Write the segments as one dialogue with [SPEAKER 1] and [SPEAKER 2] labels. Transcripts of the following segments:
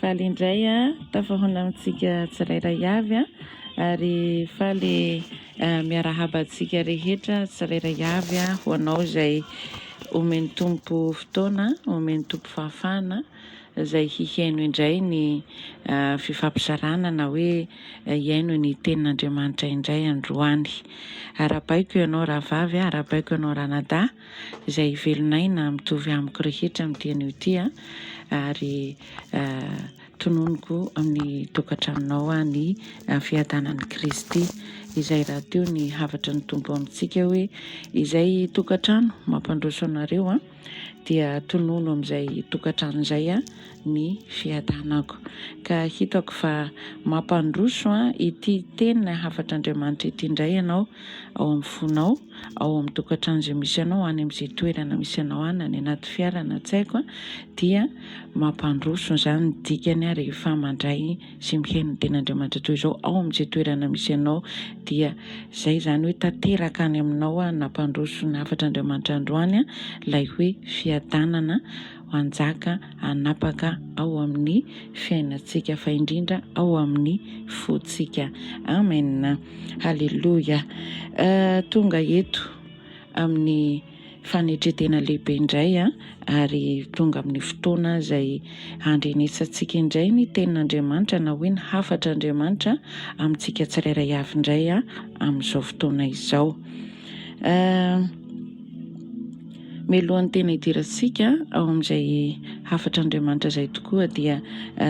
[SPEAKER 1] Faly indray tafahona amintsika tsirairay avy ary faly miarahaba antsika rehetra tsirairay avy ho anao izay omen'ny Tompo fotoana, omen'ny Tompo fahafahana izay hiheno indray ny fifampizarana na hoe hihaino ny tenin'Andriamanitra indray androany. Arahabaiko ianao rahavavy, arahabaiko ianao ranadahy. izay hivelon'aina mitovy amiko rehetra amin'ity anio ity ary tononiko amin'ny tokantranonao ny fiadanan'i Kristy izay rahateo ny hafatry ny Tompo amintsika hoe izay tokantrano mampandroso anareo dia tonono amin'izay tokantrano izay ny fiadanako ka hitako fa mampandroso ity teny hafatr'Andriamanitra ity indray ianao ao amin'ny fonao ao amin'ny tokantrano izay misy anao any amin'izay toerana misy anao any na ny anaty fiara na tsy haiko dia mampandroso izany ny dikany rehefa mandray sy mihaino ny ten'Andriamanitra toy izao ao amin'izay toerana misy anao dia izay izany hoe tanteraka any aminao nampandroso ny hafatr'Andriamanitra androany ilay hoe fiadanana hanjaka hanapaka ao amin'ny fiainantsika fa indrindra ao amin'ny fontsika. Amen. Haleloia. Tonga eto amin'ny fanetretena lehibe indray ary tonga amin'ny fotoana izay handrenesantsika indray ny tenin'Andriamanitra na hoe ny hafatr'Andriamanitra amintsika tsirairay avy indray amin'izao fotoana izao. Mialohan'ny tena hidirantsika ao amin'izay hafatr'Andriamanitra izay tokoa dia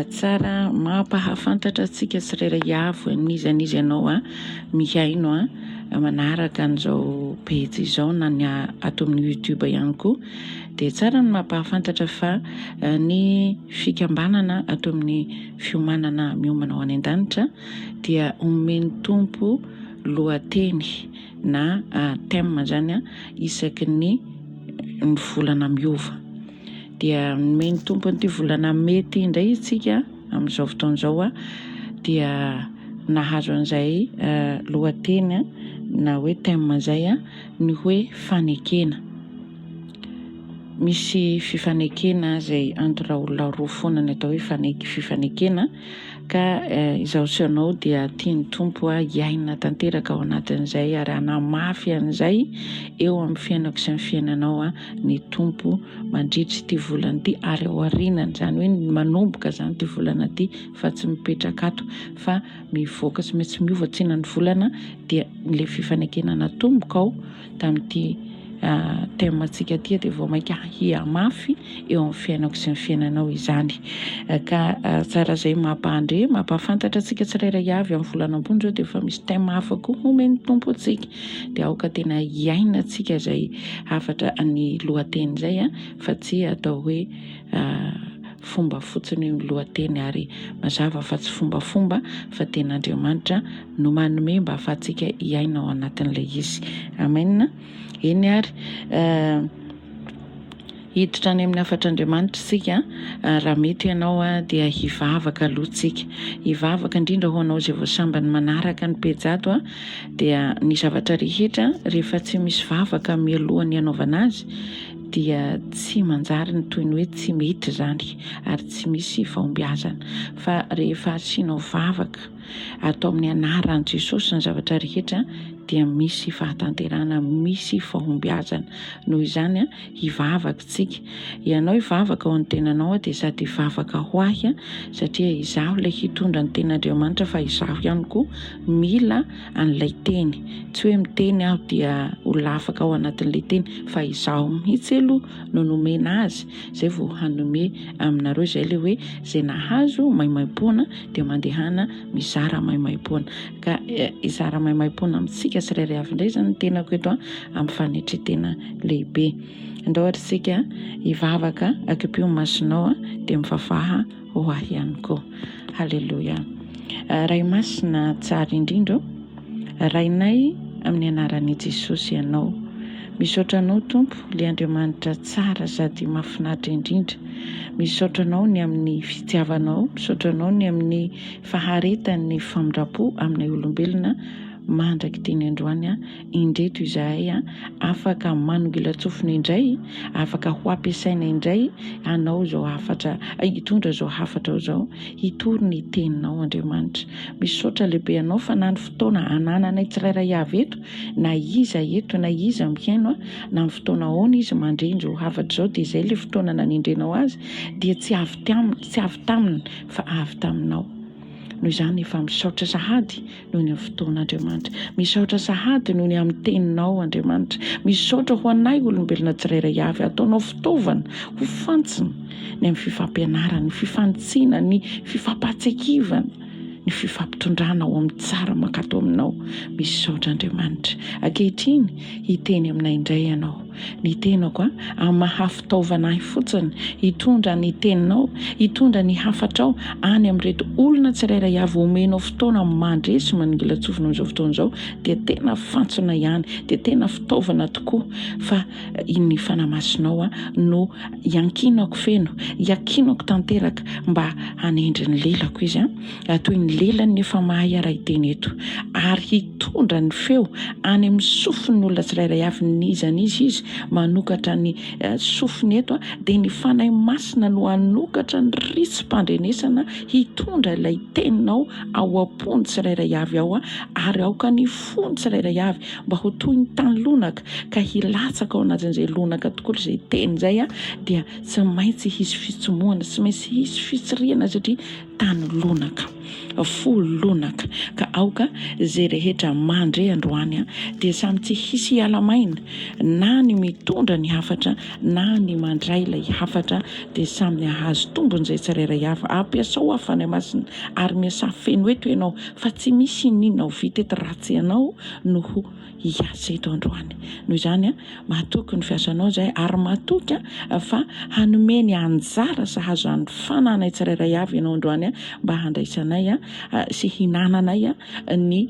[SPEAKER 1] tsara mampahafantatra antsika tsirairay hiavo an'iza an'iza ianao mihaino manaraka an'izao pejy izao na ny ato amin'ny YouTube ihany koa dia tsara ny mampahafantatra fa ny fikambanana ato amin'ny fiomanana miomana ho any an-danitra dia omen'ny tompo lohateny na thème izany isaky ny volana miova. Dia nomen'ny Tompo an'ity volana mey ity indray isika amin'izao fotoana izao dia nahazo an'izay lohateny na hoe thème izay ny hoe fanekena. Misy fifanekena izay antoraolona roa foana ny atao hoe fifanekena. Ka izaho sy ianao dia tian'ny Tompo hiaina tanteraka ao anatin'izay ary hanamafy an'izay eo amin'ny fiainako sy ny fiainanao ny Tompo mandritra ity volana ity ary ao aorianany, izany hoe manomboka izany ity volana ity fa tsy mipetraka ato fa mivoaka sy tsy miova tsinan'ny volana dia ilay fifanekena natombokao tamin'ity thème antsika ity dia vao mainka hihamafy eo amin'ny fiainako sy ny fiainanao izany ka tsara izay mampahandre mampahafantatra antsika tsirairay avy amin'ny volana ambony izao dia efa misy thème hafa koa homen'ny tompo antsika dia aoka tena hiaina antsika izay hafatra ny lohateny izay a fa tsy atao hoe fomba fotsiny ny lohateny ary mazava fa tsy fombafomba fa tena Andriamanitra no manome mba afahantsika hiaina ao anatin'ilay izy. Amen. Eny ary. Hiditra any amin'ny hafatr'Andriamanitra isika raha mety ianao dia hivavaka aloha tsika. Hivavaka indrindra ho anao izay vao sambany manaraka ny pejy ato dia ny zavatra rehetra rehefa tsy misy vavaka mialohan'ny hanaovana azy dia tsy manjary ny toy ny hoe tsy mety izany ary tsy misy fahombiazana fa rehefa asianao vavaka Ato amin'ny anaran'i Jesosy ny zavatra rehetra dia misy fahatanterahana, misy fahombiazana. Noho izany, hivavaka isika. Ianao hivavaka ao amin'ny tenanao dia sady hivavaka ho ahy satria izaho ilay hitondra ny ten'Andriamanitra fa izaho ihany koa mila an'ilay teny. Tsy hoe miteny aho dia ho lafaka ao anatin'ilay teny fa izaho mihitsy aloha no nomena azy izay vao hanome aminareo izay ilay hoe izay nahazo maimaimpoana dia mandehana mizara maimaimpoana. Ka eh, izara maimaimpoana amintsika tsirairay avy indray izany ny tenako eto amin'ny fanetretena lehibe. Ndao atritsika hivavaka akipio masinao dia mivavaha ho ahy ihany koa. Haleloia. Eh, Ray masina tsara indrindra Rainay amin'ny anaran'i Jesosy ianao. Misaotra anao Tompo le Andriamanitra tsara sady mafinaritra indrindra. Misaotra anao ny amin'ny fitiavanao, misaotra anao ny amin'ny faharetan'ny famindrampo aminay olombelona mandrak'iteny androany an, indreto izahay an, afaka manongilan-tsofina indray, afaka ho ampiasaina indray hanao izao hafatra, hitondra izao hafatra izao. Hitory ny teninao Andriamanitra. Misaotra lehibe anao fa na ny fotoana anananay tsirairay avy eto, na iza eto, na iza mihaino an, na ny fotoana aona izy mandre inzao hafatra izao dia izay ilay fotoana nanendrenao azy dia tsy avy taminy, tsy avy taminy fa avy taminao. Noho izany efa misaotra sahady. noho ny fotoana Andriamanitra. Misaotra sahady noho ny amin'ny teninao Andriamanitra. Misaotra ho anay olombelona tsirairay avy ataonao fitaovana ho fantsina ny amin'ny fifampianarana, ny fifanitsiana, ny fifampahatsekivana, ny fifampitondrana ao amin'ny tsara mankato aminao. Misaotra Andriamanitra. Ankehitriny hiteny aminay indray ianao. ny tenako an, amin'ny maha fitaovana ahy fotsiny hitondra ny teninao, hitondra ny hafatrao any amin'ireto olona tsirairay avy omenao fotoana mandresy manongilan-tsofina amin'izao fotoana izao dia tena fantsona ihany, dia tena fitaovana tokoa fa ny Fanahy Masinao an no iankinako feno, iankinako tanteraka mba hanendry ny lelako Izy an. raha toy ny lelany ny efa mahay hiara-hiteny eto, ary hitondra ny feo any amin'ny sofin'ny olona tsirairay avy n'iza n'iza izy, manokatra ny sofiny eto, dia ny Fanahy Masina no hanokatra ny ritsim-pandrenesana hitondra ilay teninao ao am-pon'ny tsirairay avy ao, ary aoka ny fon'ny tsirairay avy mba ho toy ny tany lonaka, ka hilatsaka ao anatin'izay lonaka tokoa izay teny izay, dia tsy maintsy hisy fitsimohana, tsy maintsy hisy fitsirihana, satria. Tany lonaka, fo lonaka, ka aoka izay rehetra mandre androany dia samy tsy hisy hiala maina, na ny mitondra ny hafatra na ny mandray ilay hafatra, dia samy hahazo tombony izay tsirairay avy. Ampiasao aho Fanahy Masina ary miasà feno eto ianao fa tsy misy ininona ho vita eto raha tsy ianao no ho hiasa eto androany. Noho izany, mahatoky ny fiasanao izay ary mahatoky fa hanome ny anjara sahaza an'ny fananay tsirairay avy ianao androany mba handraisanay sy hinananay ny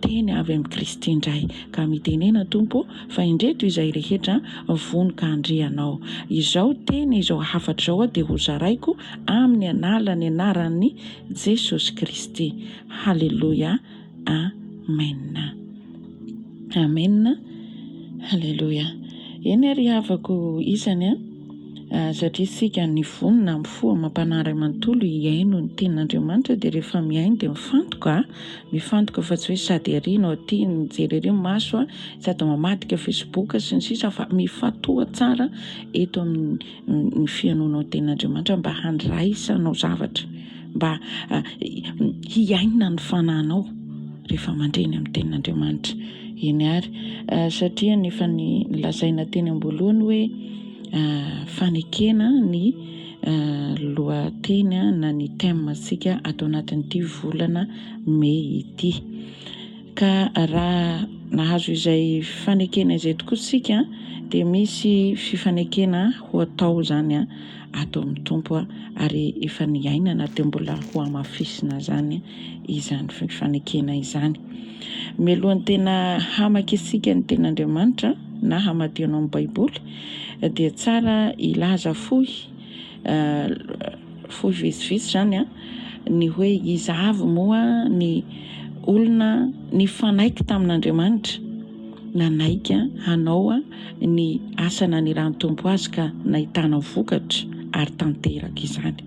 [SPEAKER 1] teny avy amin'i Kristy indray. Ka mitenena Tompo fa indreto izay rehetra vono ka handre Anao. Izao teny, izao hafatra izao dia hozaraiko amin'ny anàla, ny anaran'i Jesosy Kristy. Haleloia. Amen Amen Haleloia Eny ary havako isany an satria isika ny fony na amin'ny fo amam-panahy iray manontolo hihaino ny tenin'Andriamanitra dia rehefa mihaino dia mifantoka mifantoka fa tsy hoe sady ery no aty mijery ery ny maso sady mamadika facebook sy ny sisa fa mifantoha tsara eto amin'ny ny fihainoanao tena Andriamanitra mba handraisanao zavatra, mba hiaina ny fanahinao rehefa mandre ny amin'ny tenin'Andriamanitra. Eny ary, satria ny efa ny lazaina teny am-boalohany hoe fanekena ny lohateny na ny thème-ntsika ato anatin'ity volana mey ity. Ka raha nahazo izay fanekena izay tokoa isika dia misy fifanekena ho atao izany ato amin'ny Tompo ary efa niainana dia mbola ho hamafisina izany izany fifanekena izany. Mialohan'ny tena hamaka isika ny ten'Andriamanitra na hamadio anao ny Baiboly dia tsara hilaza fohy fohy vitsivitsy zany an, ny hoe iza avy moa ny olona nifanaiky tamin'Andriamanitra nanaiky hanao ny asa nanirahan'ny Tompo azy ka nahitana vokatra ary tanteraka izany.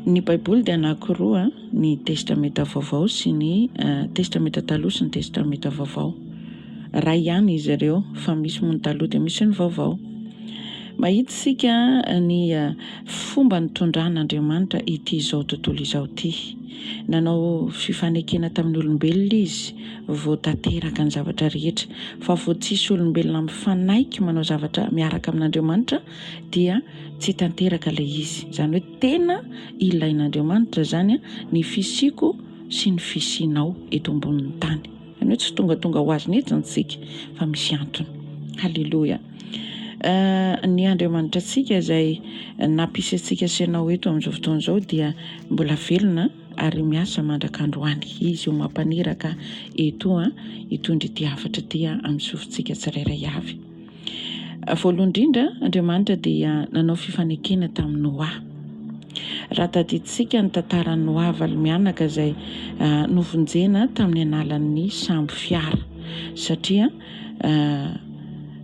[SPEAKER 1] Ny Baiboly dia anankiroa, ny Testamenta Vaovao sy ny Testamenta Taloha sy ny Testamenta Vaovao. Iray ihany izy ireo fa misy moa ny taloha dia misy ny vaovao. Mahita isika ny fomba nitondran'Andriamanitra ity izao tontolo izao ity. Nanao fifanekena tamin'ny olombelona izy vao tanteraka ny zavatra rehetra fa vao tsisy olombelona mifanaiky manao zavatra miaraka amin'Andriamanitra dia tsy tanteraka ilay izy. Izany hoe tena ilain'Andriamanitra izany ny fisiako sy ny fisianao eto ambonin'ny tany. Izany hoe tsy tongatonga ho azy mihitsy isika fa misy antony. Haleloia. Ny Andriamanitra antsika izay nampisy antsika sy ianao eto amin'izao fotoana izao dia mbola velona ary miasa mandrak'androany. Izy io mampaniraka etoa hitondra ity hafatra ity amin'ny sofintsika tsirairay avy. Voalohany indrindra, Andriamanitra dia nanao fifanekena tamin'i Noa. Raha tadidintsika ny tantaran'i Noa valo-mianaka izay novonjena tamin'ny analan'ny sambo fiara, satria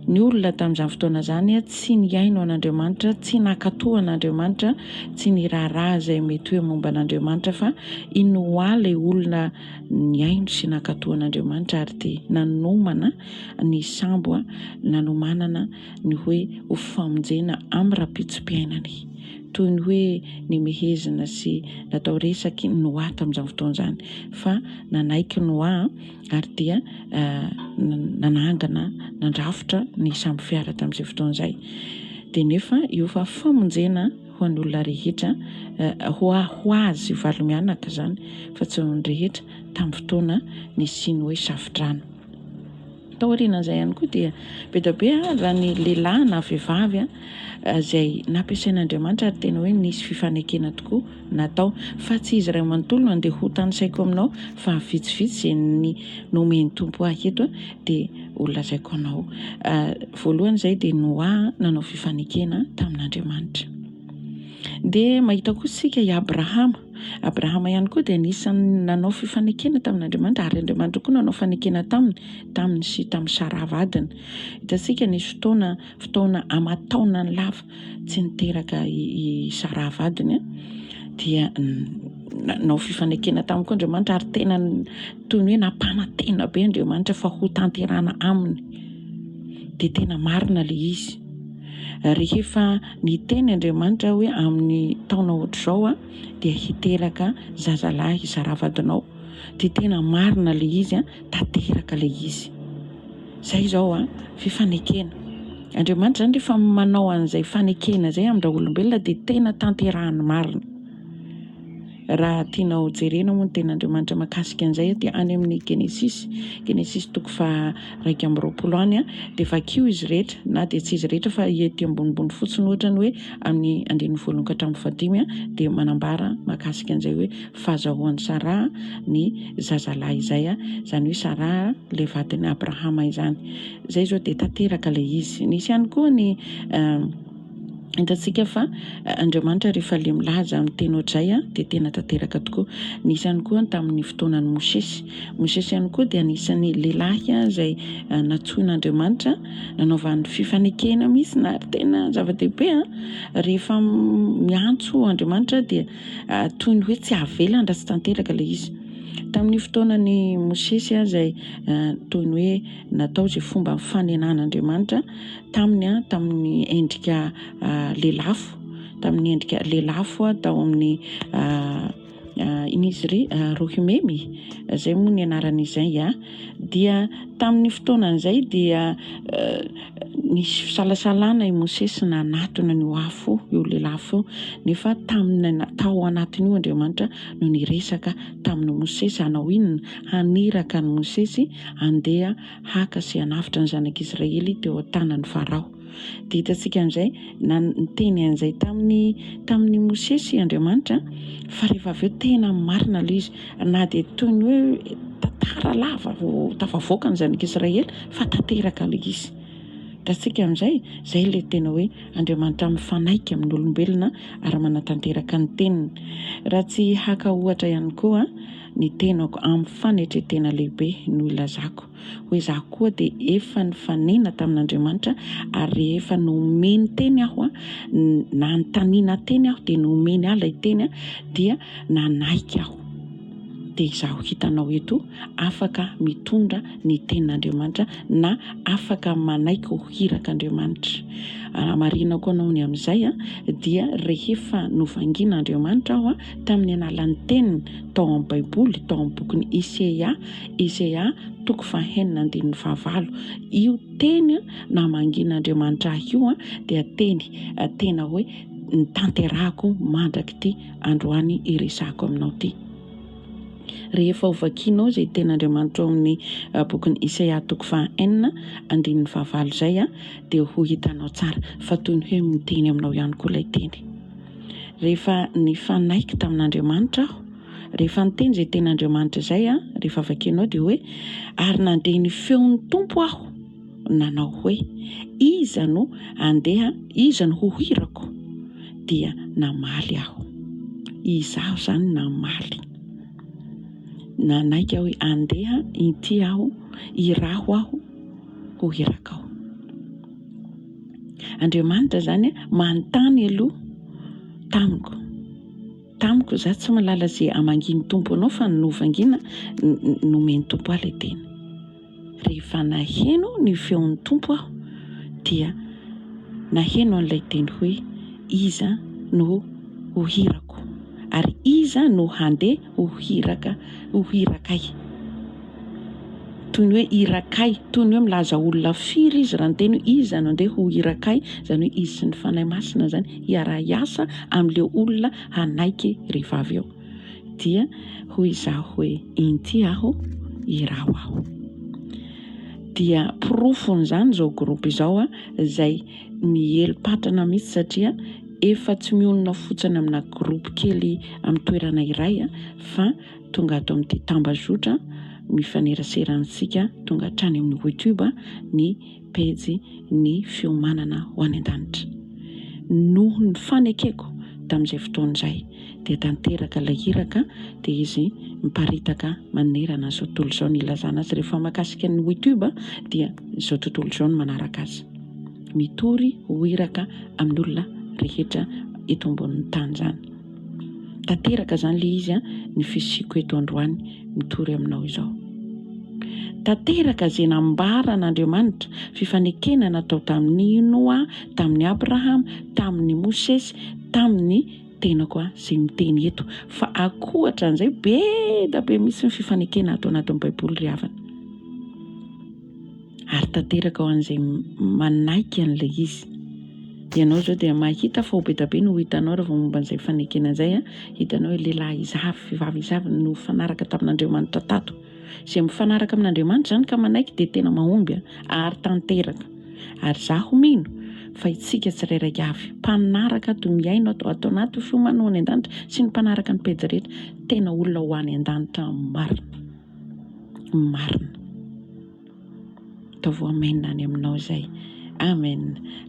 [SPEAKER 1] ny olona tamin'izany fotoana izany tsy nihaino an'Andriamanitra, tsy nankatò an'Andriamanitra, tsy niraharaha izay mety hoe momba an'Andriamanitra fa i Noa ilay olona nihaino sy nankatò an'Andriamanitra ary te nanomana ny sambo nanomanana ny hoe ho famonjena amin'ny rahampitso-piainany. Toy ny hoe nimehezina sy natao resaky ny Noa tamin'izany fotoana izany, fa nanaiky Noa ary dia nanangana, nandrafitra ny sambo fiara tamin'izay fotoana izay. Dia nefa io fa famonjena. ho an'olona rehetra, ho ho azy valo mianaka izany fa tsy ho an'ny rehetra tamin'ny fotoana nisian'ny hoe Safodrano. Taorianan'izay ihany koa dia be dia be raha ny lehilahy na vehivavy izay nampiasain'Andriamanitra ary tena hoe nisy fifanekena tokoa natao fa tsy izy iray manontolo no andeha ho tanisaiko aminao fa vitsivitsy izay ny nomen'ny Tompo ahy eto dia ho lazaiko anao. Voalohany izay dia Noa nanao fifanekena tamin'Andriamanitra. Dia mahita koa isika i Abrahama. Abrahama ihany koa dia anisan'ny nanao fifanekena tamin'Andriamanitra ary Andriamanitra koa nanao fanekena taminy, taminy sy tamin'i Sara vadiny. Hitantsika nisy fotoana, fotoana aman-taonany lava tsy niteraka i Sara vadiny dia nanao fifanekena taminy koa Andriamanitra ary tena toy ny hoe nampanantena be Andriamanitra fa ho tanterana aminy, dia tena marina ilay izy. Rehefa niteny Andriamanitra hoe amin'ny taona ohatr'izao a, dia hiteraka zazalahy zaravadinao, dia tena marina ilay izy a, tanteraka ilay izy. Zay izao a, fe fanekena. Andriamanitra zany rehefa manao an'izay fanekena izay amin-dra olombelona dia tena tanterahany marina. Raha tianao jerena moa ny tenin'Andriamanitra makasika an'izay dia any amin'ny Genesisy, Genesisy toko faha iraika amby roapolo any dia vakio izy rehetra na dia tsy izy rehetra fa ety ambonimbony fotsiny ohatra ny hoe amin'ny andininy voalohany ka hatramin'ny fahadimy dia manambara makasika an'izay hoe fahazahoan'i Saraha ny zazalahy izay izany hoe Saraha ilay vadin'i Abrahama izany. Izay izao dia tanteraka ilay izy. Nisy ihany koa ny Hitantsika fa Andriamanitra rehefa le milaza amin'ny teny ohatray dia tena tanteraka tokoa. Nisy ihany koa tamin'ny fotoanan'i Mosesy. Mosesy ihany koa dia anisan'ny lehilahy izay natsoin'Andriamanitra nanaovan'ny fifanekena misy na ary tena zava-dehibe. Rehefa miantso Andriamanitra dia toy ny hoe tsy avelan raha tsy tanteraka ilay izy. Tamin'ny fotoanan'i Mosesy izay toy ny hoe natao izay fomba fanenan'Andriamanitra. taminy tamin'ny endrika lelafo tamin'ny endrika lelafo tao amin'ny inisy ry rohimemy izay moa ny anarana izay a dia tamin'ny fotoana izay dia nisy fisalasalana i mosesy na anatona ny ho afo io lelafo nefa tamin'ny tao anatin'io andriamanitra no niresaka tamin'ny mosesy hanao inona haniraka ny mosesy andeha haka sy hanavotra ny zanak'Israely teo an-tanan'i Farao. Dia hitantsika amin'izay, niteny an'izay tamin'i tamin'i Mosesy Andriamanitra, fa rehefa avy eo tena marina aloha izy, na dia toy ny hoe tantara lava vao tafavoaka ny zanak'Israely, fa tanteraka aloha izy. Hitantsika amin'izay, izay ilay tena hoe Andriamanitra mifanaiky amin'olombelona ary manatanteraka ny teniny. Raha tsy haka ohatra ihany koa, Ny tenako amin'ny fanetren-tena lehibe no ilazako. Hoy izaho koa dia efa nifanena tamin'Andriamanitra ary rehefa nomeny teny aho, nanontaniana teny aho dia nomeny ahy ilay teny dia nanaiky aho. Dia izaho hitanao eto afaka mitondra ny tenin'Andriamanitra na afaka manaiky ho hirak'Andriamanitra. Raha marihina koa anao ny amin'izay dia rehefa novangian'Andriamanitra aho tamin'ny alalan'ny teniny tao amin'ny Baiboly, tao amin'ny bokin'i Iseia, Iseia toko fahenina andininy fahavalo. Io teny namangian'Andriamanitra ahy io dia teny tena hoe tanterahako mandrak'ity androany iresahako aminao ity. Rehefa hovakianao izay tenin'Andriamanitra ao amin'ny bokin'i Iseia toko fahenina andininy fahavalo izay dia ho hitanao tsara fa toy ny hoe miteny aminao ihany koa ilay teny. Rehefa nifanaiky tamin'Andriamanitra aho, rehefa niteny izay tenin'Andriamanitra izay an, rehefa vakianao dia hoe, ary nandre ny feon'ny Tompo aho nanao hoe, iza no handeha, iza no ho irako? dia namaly aho. Izaho izany namaly. Nanaiky aho hoe, andeha inty aho, iraho aho ho irakao. Andriamanitra izany manontany aloha tamiko. Tamiko, za tsy malala ze amangian'ny Tompo anao fa ny novangiana nomen'ny Tompo ahy le tena. Rehefa naheno ny feon'ny Tompo aho dia naheno an'ilay teny hoe iza no ho hirako ary iza no handeha Ho hiraka, ho hirakay. Toy ny hoe hirakay, toy ny hoe milaza olona firy izy raha niteny hoe iza no andeha ho hirakay, izany hoe izy sy ny Fanahy Masina izany hiara-hiasa amin'ilay olona hanaiky rehefa avy eo. Dia hoy izaho hoe inty aho, iraho aho. Dia porofon'izany izao groupe izao izay Miely patrana mihitsy satria efa tsy mionona fotsiny amina groupe kely amin'ny toerana iray fa tonga ato amin'ity tambazotra mifanerasera antsika tonga hatrany amin'ny YouTube ny pejy ny fiomanana ho any an-danitra. Noho ny fanekeko tamin'izay fotoana izay dia tanteraka ilay iraka dia izy miparitaka manerana izao tontolo izao ny ilazana azy rehefa makasika ny YouTube dia izao tontolo izao ny manaraka azy. mitory ho iraka amin'olona rehetra eto ambonin'ny tany izany. Tanteraka izany ilay izy an, ny fisiako eto androany mitory aminao izao. Tanteraka izay nambaran'Andriamanitra, fifanekena natao tamin'i Noa, tamin'i Abrahama, tamin'i Mosesy, tamin'ny tenako an, izay miteny eto. Fa akohatra an'izay, be da be mihitsy ny fifanekena ato anatin'ny Baiboly ry havana. ary tanteraka ho an'izay manaiky an'ilay izy. Ianao izao dia mahita fa ho bedabe no ho hitanao raha vao momba an'izay fanekena izay. Hitanao hoe lehilahy izavy, vehivavy izavy no nifanaraka tamin'Andriamanitra tato. Izay mifanaraka amin'Andriamanitra izany ka manaiky dia tena mahomby ary tanteraka. Ary izaho mino fa itsika tsirairay avy, mpanaraka ato, mihaino ato, ato anaty fiomana ho any an-danitra sy ny mpanaraka ny pejy rehetra, tena olona ho any an-danitra marina. Marina. Ataovy ho amen any aminao izay. Amen.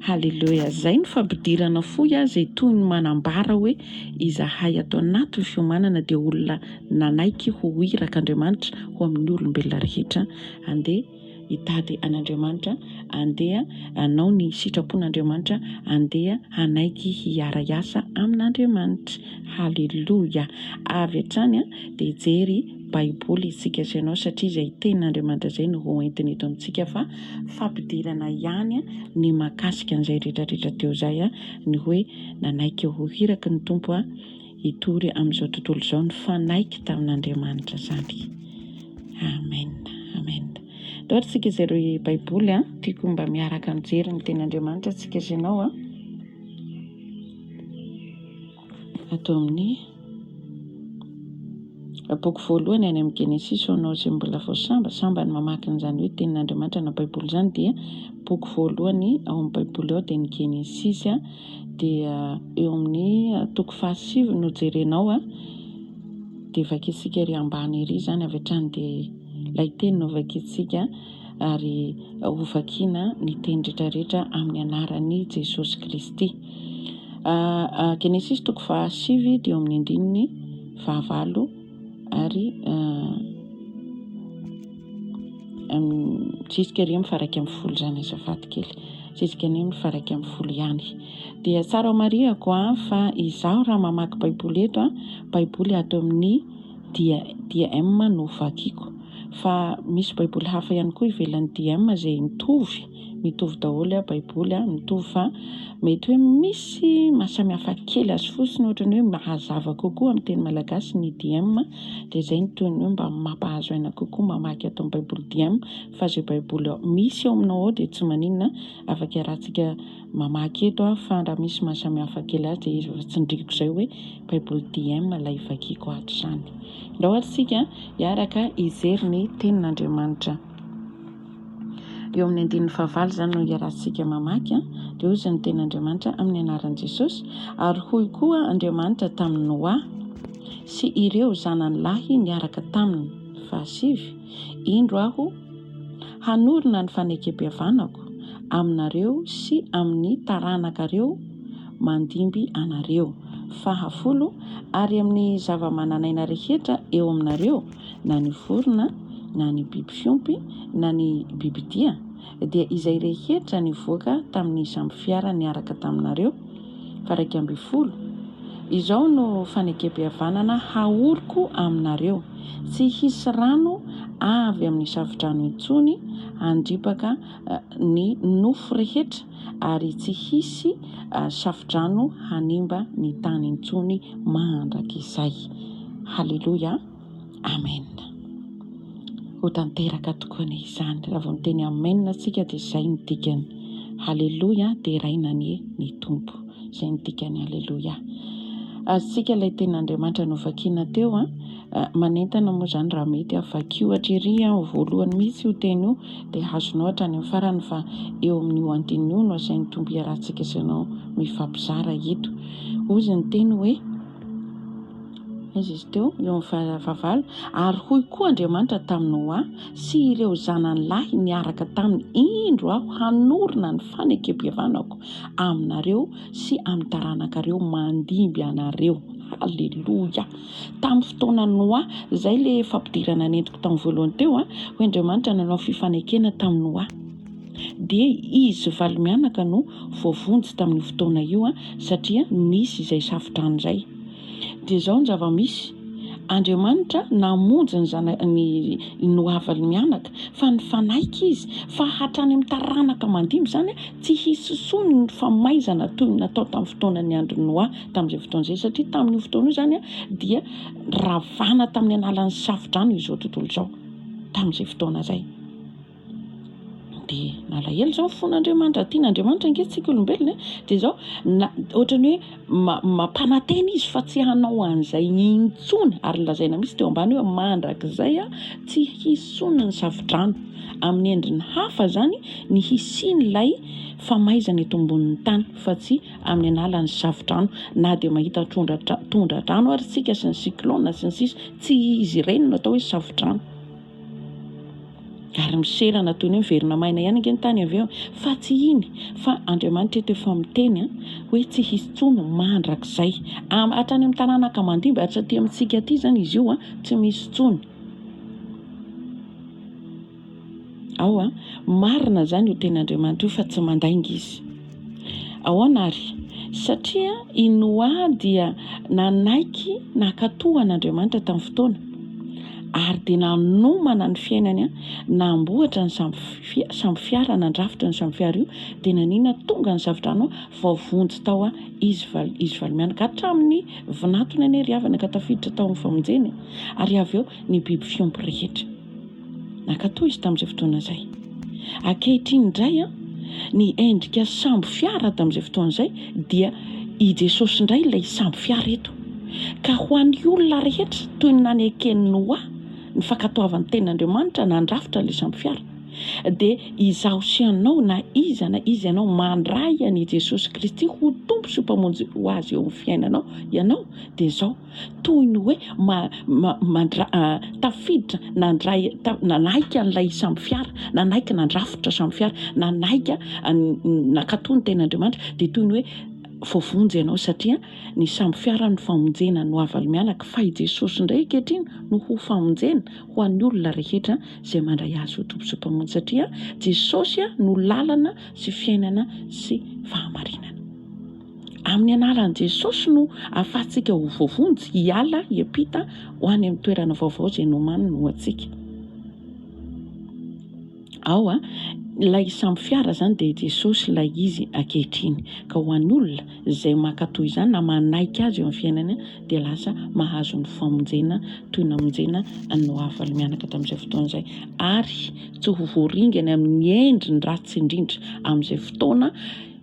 [SPEAKER 1] Haleloia. Izay no fampidirana fo aho izay toy ny manambara hoe izahay ato anatin'ny fiomanana dia olona nanaiky ho irak' Andriamanitra ho amin'ny olombelona rehetra. Andeha hitady an' Andriamanitra, andeha hanao ny sitrapon' Andriamanitra, andeha hanaiky hiara hiasa amin' Andriamanitra. Haleloia. Avy hatrany dia hijery. Baiboly isika sy ianao satria izay tenin'Andriamanitra izay no ho entiny eto amintsika fa fampidirana ihany ny mahakasika an'izay rehetrarehetra teo izay ny hoe nanaiky ho hiraky ny Tompo hitory amin'izao tontolo izao nifanaiky tamin'Andriamanitra izany. Amen. Amen. Daholo isika izay ireo Baiboly an. Tiako mba miaraka mijery ny tenin'Andriamanitra isika sy ianao an. Ato amin'ny boky voalohany any amin'ny Genesisy ho anao izay mbola vao samba samba ny mamaky an'izany hoe Tenin'Andriamanitra na Baiboly izany dia boky voalohany ao amin'ny Baiboly ao dia ny Genesisy dia eo amin'ny toko fahasivy no jerenao dia vakintsika ery ambany ery izany avy hatrany dia ilay teny no vakintsika ary hovakiana ny teny rehetra rehetra amin'ny anaran'i Jesosy Kristy. Genesisy toko faha sivy dia eo amin'ny andininy faha valo ary jusqu'à eo amin'ny faha iraika ambin'ny folo izany azafady kely, jusqu'à eo amin'ny faha iraika ambin'ny folo ihany. Dia tsara homarihako fa izaho raha mamaky baiboly eto, baiboly ato amin'ny DEM no vakiako, fa misy baiboly hafa ihany koa ivelan'ny DEM izay mitovy. Mitovy daholo a baiboly a, mitovy fa mety hoe misy mahasamihafa kely azy fotsiny ohatrany hoe mahazava kokoa amin'ny teny malagasy ny DIEM dia izay no toy ny hoe mba mampahazo aina kokoa mamaky ato amin'ny baiboly DIEM fa izay baiboly misy ao aminao ao dia tsy maninona afaka iarahantsika mamaky eto aho fa raha misy mahasamihafa kely azy dia izy efa tsindriako izay hoe baiboly DIEM ilay vakiako ato izany. Andao ary isika hiaraka hijery ny tenin'Andriamanitra. Eo amin'ny andininy fahavalo izany no iarahantsika mamaky an, dia hoy izy ny teny Andriamanitra amin'ny anaran'i Jesosy, ary hoy koa Andriamanitra tamin'i Noa sy ireo zanany lahy niaraka taminy, fahasivy, Indro aho hanorina ny fanekempihavanako aminareo sy amin'ny taranakareo mandimby anareo, fahafolo, ary amin'ny zavamananaina rehetra eo aminareo, na ny vorona, na ny biby fiompy, na ny bibidia, dia izay rehetra nivoaka tamin'ny sambofiara niaraka taminareo, fa raika ambin'ny folo, izao no fanekempihavanana hahoriko aminareo, tsy hisy rano avy amin'ny safodrano intsony handripaka ny nofo rehetra, ary tsy hisy shafodrano hanimba ny tany intsony mandrakizay. Haleloia! Amen! Ho tanteraka tokoa anie izany, raha vao miteny amen isika dia izay no dikany. Haleloia! Deraina anie ny Tompo. Izay no dikany. Haleloia! Azontsika ilay tenin'Andriamanitra novakina teo an, manentana moa izany raha mety aho vakio hatry ery an, ho voalohany mihitsy io teny io. dia azonao hatrany amin'ny farany fa eo amin'io andininy io no asain'ny Tompo hiarahantsika sy ianao mifampizara eto. Hozy ny Teny hoe, Aiza izy teo? Eo amin'ny fa, fahavalo, Ary hoy koa Andriamanitra tamin'i Noa sy ireo zanany lahy niaraka taminy, Indro Aho hanorina ny fanekempihavanako aminareo sy amin'ny taranakareo mandimby anareo. Haleloia! Tamin'ny fotoana Noa, izay ilay fampidirana nentiko tamin'ny voalohany teo, hoy Andriamanitra nanao fifanekena tamin'i Noa. Dia izy valo mianaka no voavonjy tamin'io fotoana io, satria nisy izay safo-drano izay. Dia izao ny zava-misy, Andriamanitra namonjy ny zanany i Noa valo mianaka, fa nifanaiky izy fa hatrany amin'ny taranaka mandimby izany, tsy hisy intsony ny famaizana toy ny natao tamin'ny fotoanan'ny andron'i Noa. tamin'izay fotoana izay, satria tamin'io fotoana io izany dia ravana tamin'ny alalan'ny safodrano izao tontolo izao, tamin'izay fotoana izay. Dia nalahelo izao ny fon'Andriamanitra, raha tian'Andriamanitra ange tsika olombelona e, dia izao na ohatran'ny hoe ma- mampanantena izy fa tsy hanao an'izay intsony, ary nolazaina mihitsy teo ambany hoe mandrakizay tsy hisy intsony ny safodrano, amin'ny endriny hafa izany ny hisian'ilay famaizana eto ambonin'ny tany fa tsy amin'ny alalan'ny safo-drano na dia mahita tondra-drano ary isika sy ny cyclone sy ny sisa tsy izy ireny no atao hoe safo-drano ary miserana toy ny hoe miverina maina ihany ange ny tany avy eo fa tsy iny fa Andriamanitra eto efa miteny an hoe tsy hisy intsony mandrakizay hatrany amin'ny taranaka mandimby ary tsy aty amintsika aty izany izy io an tsy misy intsony Ao a! Marina izany io tenin'Andriamanitra io fa tsy mandainga Izy. Ahoana ary? Satria i Noa dia nanaiky nankatò an'Andriamanitra tamin'ny fotoana, ary dia nanomana ny fiainany namboatra ny sambo fiara, nandrafitra ny sambo fiara io, dia naninona? Tonga ny zafi-drano vao vonjy tao izy valo mianaka. Hatramin'ny vinantony anie ry havana ka tafiditra tao amin'ny famonjena e! Ary avy eo ny biby fiompy rehetra. Nankatò izy tamin'izay fotoana izay. Ankehitriny indray, ny endrika sambo fiara tamin'izay fotoana izay dia i Jesosy indray ilay sambo fiara eto. Ka ho an'ny olona rehetra, toy ny naneken'i Noa ny fankatoavan'ny tenin'Andriamanitra nandrafitra ilay sambo fiara, dia izaho sy ianao, na iza na iza ianao, mandray an'i Jesosy Kristy ho Tompo sy Mpamonjy ho azy eo amin'ny fiainanao, ianao dia izao. toy ny hoe tafiditra nandray nanaiky an'ilay samy fiara nanaiky nandrafitra samy fiara nanaiky nakato ny tenin'Andriamanitra dia toy ny hoe voavonjy ianao satria ny samy fiara ny famonjena no aval mianaka fa i Jesosy indray ankehitriny no ho famonjena ho an'ny olona rehetra izay mandray azy ho Tompo sy Mpamonjy satria Jesosy no lalana sy fiainana sy fahamarinana Amin'ny anaran'i Jesosy no ahafahantsika ho voavonjy hiala, hiampita ho any amin'ny toerana vaovao izay nomaniny ho antsika. Ao a, ilay sambo fiara izany dia i Jesosy ilay izy ankehitriny. Ka ho an'olona izay mankatò izany na manaiky azy eo amin'ny fiainany dia lasa mahazo ny famonjena toy ny namonjena an'i Noa valo-mianaka tamin'izay fotoana izay ary tsy ho voaringana amin'ny endriny ratsy indrindra amin'izay fotoana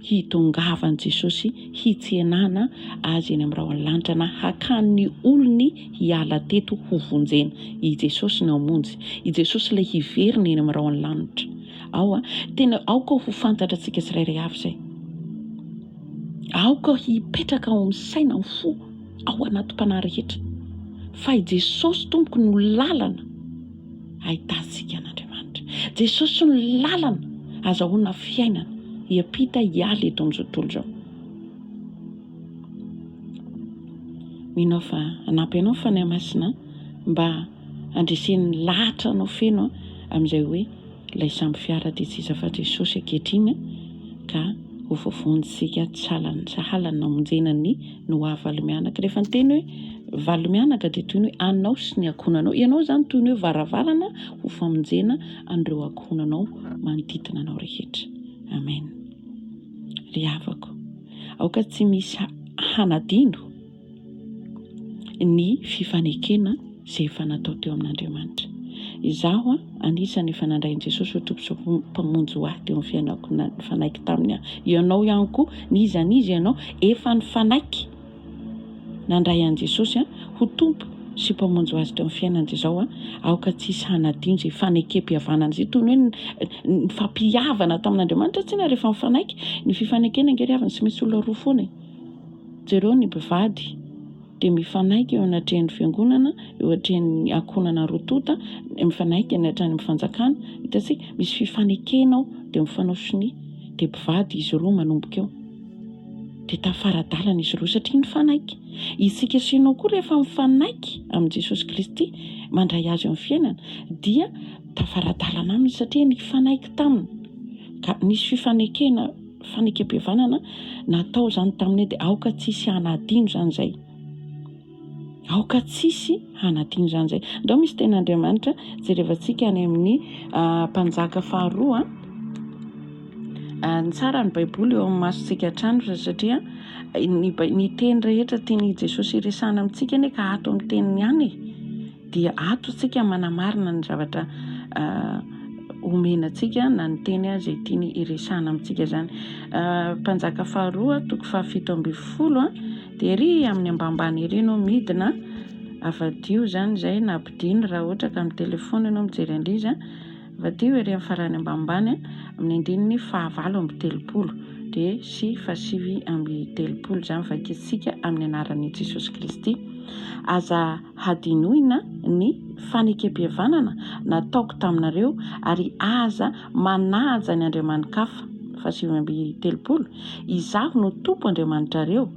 [SPEAKER 1] hitongavan'i Jesosy hitsenana Azy eny amin'ny rahon'ny lanitra na hakany ny olony hiala teto hovonjena. I Jesosy no hamonjy. I Jesosy ilay hiverina eny amin'ny rahon'ny lanitra. Ao, tena aoka ho fantatra antsika tsirairay avy izay. Aoka hipetraka ao amin'ny saina, amin'ny fo, ao anatim-panahy rehetra fa i Jesosy Tompoko no lalana. ahitantsika an'Andriamanitra. Jesosy no lalana azahoana fiainana hiampita hiala eto amin'izao tontolo izao. Mino aho fa hanampy anao ny Fanahy Masina mba handresen'ny lahatra anao feno amin'izay hoe ilay sambo fiara dia tsy iza fa Jesosy ankehitriny ka ho voavonjintsika tsy halany sahalany namonjena ny Noa valo mianaka. Rehefa niteny hoe valo mianaka dia toy ny hoe anao sy ny ankohonanao. Ianao izany toy ny hoe varavarana ho famonjena an'ireo ankohonanao manodidina anao rehetra. Amen. Ry havako, aoka tsy misy hanadino. ny fifanekena izay efa natao teo amin'Andriamanitra. Izaho anisany efa nandray an'i Jesosy ho Tompo sy Mpamonjy ho ahy teo amin'ny fiainako, na nifanaiky taminy aho. Ianao ihany koa, n'iza n'iza ianao, efa nifanaiky nandray an'i Jesosy ho Tompo sy Mpamonjy ho azy teo amin'ny fiainany, dia izao aoka tsy hisy hanadino izay fanekempihavanana izay, toy ny hoe nifampihavana tamin'Andriamanitra tsinona rehefa mifanaiky, ny fifanekena ange ry havana tsy maintsy olona roa foana e! Jereo ny mpivady dia mifanaiky eo anatrehan'ny fiangonana, eo atrehan'ny ankohonana roa tonta, mifanaiky any hatrany amin'ny fanjakana. Hitantsika, misy fifanekena ao, dia mifanao sonia. Dia mpivady izy roa manomboka eo. Dia tafara-dalana izy roa, satria nifanaiky. Isika sy ianao koa rehefa mifanaiky amin'i Jesosy Kristy, mandray Azy eo amin'ny fiainana, dia tafara-dalana Aminy, satria nifanaiky taminy, ka nisy fifanekena. Fanekempihavanana natao izany tamin'ny hoe dia aoka tsy hisy hanadino izany izay. Aoka tsy hisy hanadino izany izay. Ndao misy tenin'Andriamanitra jerevantsika any amin'ny mpanjaka faharoa. Ny tsara ny Baiboly eo amin'ny masontsika hatrany satria ny teny rehetra tian'i Jesosy hiresahana amintsika anie ka ato amin'ny teniny ihany e. Dia ato isika manamarina ny zavatra omena antsika na ny teny izay tiany hiresahana amintsika izany. Mpanjaka faharoa toko fahafito ambin'ny folo dia ery amin'ny ambambany ery no midina avadiho izany izay na ampidino raha ohatra ka amin'ny telefaonina mijery an'izy Vadio ery amin'ny farany ambanimbany amin'ny andininy fahavalo amby telopolo, dia sy fahasivy amby telopolo izany vakintsika amin'ny anaran'i Jesosy Kristy. Aza hadinoina ny fanekempihavanana nataoko taminareo ary aza manaja ny andriamani-kafa, fahasivy amby telopolo, Izaho no Tompo Andriamanitrareo,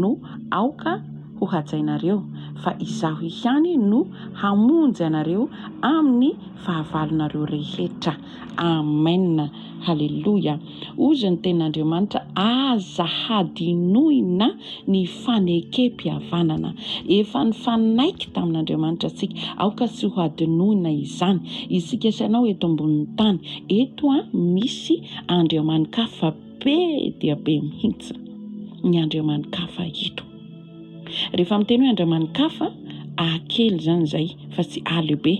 [SPEAKER 1] no aoka ho hajainareo, fa Izaho ihany no hamonjy anareo amin'ny fahavalonareo rehetra. Amen! Haleloia! Hozy ny Tenin'Andriamanitra, Aza hadinoina ny fanekempihavanana. Efa nifanaiky tamin'Andriamanitra isika, aoka tsy ho hadinoina izany. Isika sy ianao eto ambonin'ny tany, eto misy andriamani-kafa be dia be mihitsy, ny andriamani-kafa eto. Rehefa miteny hoe andramanikafa, hahakely izany izay fa tsy hahalehibe.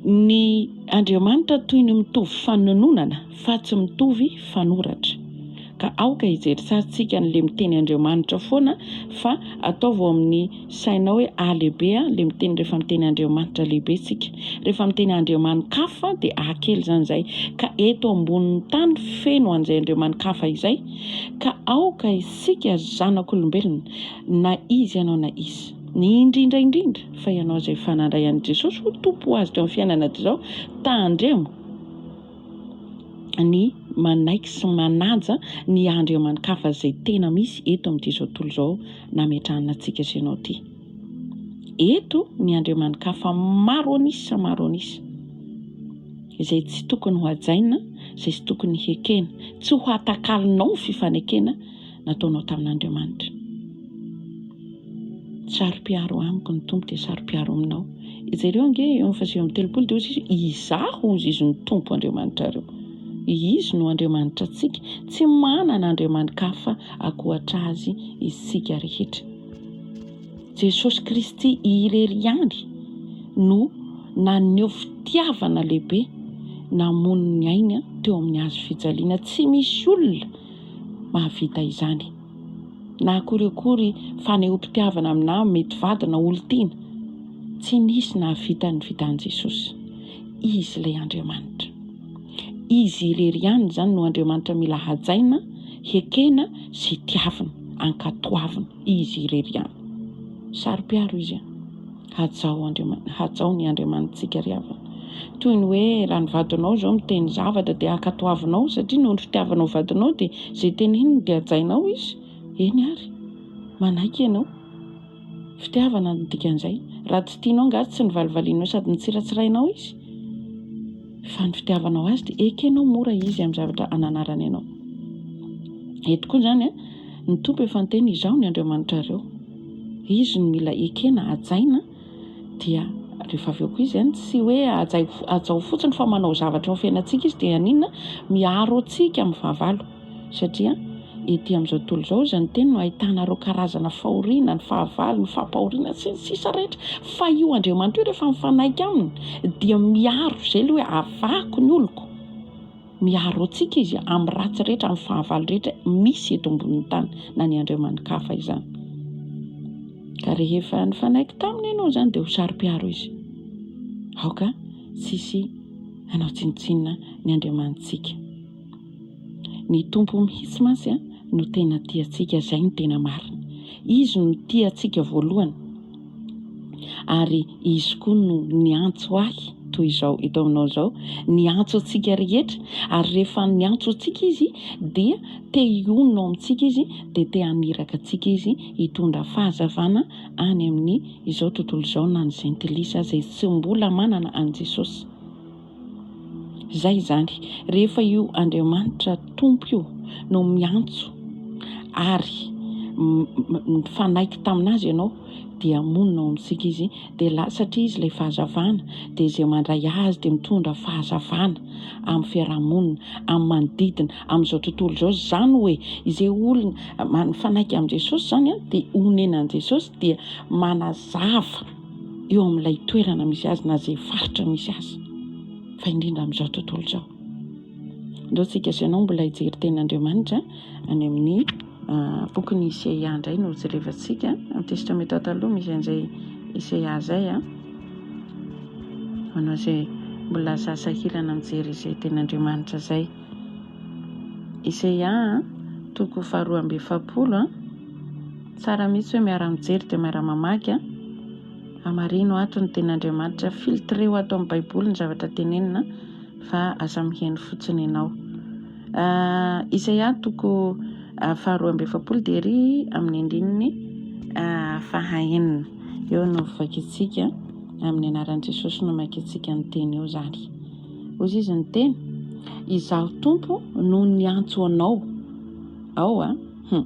[SPEAKER 1] Ny Andriamanitra toy ny mitovy fanononana fa tsy mitovy fanoratra. Ka aoka hijery tsara tsika an'ilay miteny Andriamanitra foana fa ataovy ao amin'ny sainao hoe hahalehibe ilay miteny rehefa miteny Andriamanitra lehibe tsika. Rehefa miteny andriamanikafa dia hahakely izany izay. Ka eto ambonin'ny tany feno an'izay andriamanikafa izay ka aoka Isika zanak'olombelona, na iza ianao na iza, ny indrindra indrindra fa ianao izay efa nandray an'i Jesosy ho Tompo ho azy teo amin'ny fiainana hatrizao, tandremo ny manaiky sy manaja ny andriamani-kafa izay tena misy eto amin'ity izao tontolo izao nametrahana antsika sy ianao ity. Eto ny andriamani-kafa maro an'isa maro an'isa, izay tsy tokony hohajaina, izay tsy tokony hekena, tsy ho hatakalonao ny fifanekena nataonao tamin'Andriamanitra. Saro-piaro amiko ny Tompo dia saro-piaro aminao. Jereo ange eo fa sivy amby telopolo dia hozy izy, izaho hozy izy ny Tompo Andriamanitrareo. Izy no Andriamanitra antsika, tsy manana andriamani-kafa ankoatra azy isika rehetra. Jesosy Kristy irery ihany no naneho fitiavana lehibe namono ny ainy teo amin'ny hazo fijaliana. Tsy misy olona mahavita izany. Na akory akory fanehoam-pitiavana na mety vady na olon-tiana, tsy nisy nahavita ny vitan'i Jesosy. Izy ilay Andriamanitra. Izy irery ihany izany no Andriamanitra mila hajaina, hekena sy tiavina, ankatoavina. Izy irery ihany. Saro-piaro Izy an! Hajao Andriamanitra, hajao ny Andriamanitsika ry havana. Toy ny hoe raha ny vadinao izao miteny zavatra dia ankatoavinao satria noho ny fitiavanao vadinao dia izay teneniny dia hajainao izy, eny ary, manaiky ianao. Fitiavana no dikan'izay. Raha tsy tianao angaha tsy novalivalianao sady notsiratsirainao izy? Fa ny fitiavanao azy dia ekenao mora izy amin'ny zavatra ananarany anao. Eto koa izany, ny Tompo efa niteny, Izaho ny Andriamanitrareo. Izy no mila ekena, hajaina, dia rehefa avy eo koa izy, tsy hoe hajao fotsiny fa manao zavatra eo amin'ny fiainantsika izy dia haninona? Miaro antsika amin'ny fahavalo. Satria ety amin'izao tontolo izao hozy ny teny no ahitana ireo karazana fahoriana, ny fahavalo, ny fampahoriana sy ny sisa rehetra. Fa io Andriamanitra io rehefa mifanaiky aminy dia miaro izay ilay hoe avahako ny oloko. Miaro antsika izy amin'ny ratsy rehetra, amin'ny fahavalo rehetra misy eto ambonin'ny tany na ny andriamani-kafa izany. Ka rehefa nifanaiky taminy ianao izany dia ho saro-piaro izy. Aoka tsy hisy hanao tsinontsinona ny Andriamanitsika. Ny Tompo mihitsy mantsy no tena tia antsika, izay no tena marina. Izy no tia antsika voalohany ary Izy koa no niantso ahy toy izao eto aminao izao, niantso antsika rehetra ary rehefa niantso antsika Izy dia te hionona ao amintsika Izy, dia te haniraka antsika Izy hitondra fahazavana any amin'izao tontolo izao na ny jentilisa izay tsy mbola manana an'i Jesosy. Izay izany, rehefa io Andriamanitra Tompo io no miantso ary mifanaiky tamin'Azy ianao dia monina ao amintsika Izy dia la, satria Izy ilay Fahazavana dia izay mandray Azy dia mitondra Fahazavana amin'ny fiaraha-monina, amin'ny manodidina, amin'izao tontolo izao. Izany hoe, izay olona mifanaiky amin'i Jesosy izany dia onenan'i Jesosy dia manazava. eo amin'ilay toerana misy azy na izay faritra misy azy fa indrindra amin'izao tontolo izao. Ndao tsika sy ianao mbola hijery tenin'Andriamanitra any amin'ny ah, bokin'i Iseia indray no jerevantsika amin'ny testamenta taloha misy an'izay Iseia izay ah. Manao izay mbola aza sahirana mijery izay tenin'Andriamanitra izay. Iseia toko faharoa amby efapolo ah. Tsara mihitsy hoe miara mijery dia miara mamaky a! Hamarino ato ny tenin'Andriamanitra, filtreo ato amin'ny baiboly ny zavatra tenenina fa aza miheno fotsiny ianao. Isaia toko faharoa amby efapolo dia ery amin'ny andininy fahaenina eo no vakintsika amin'ny anaran'i Jesosy no makintsika ny teny eo izany. Hozy izy ny teny, izaho tompo no niantso anao ao a! Humm.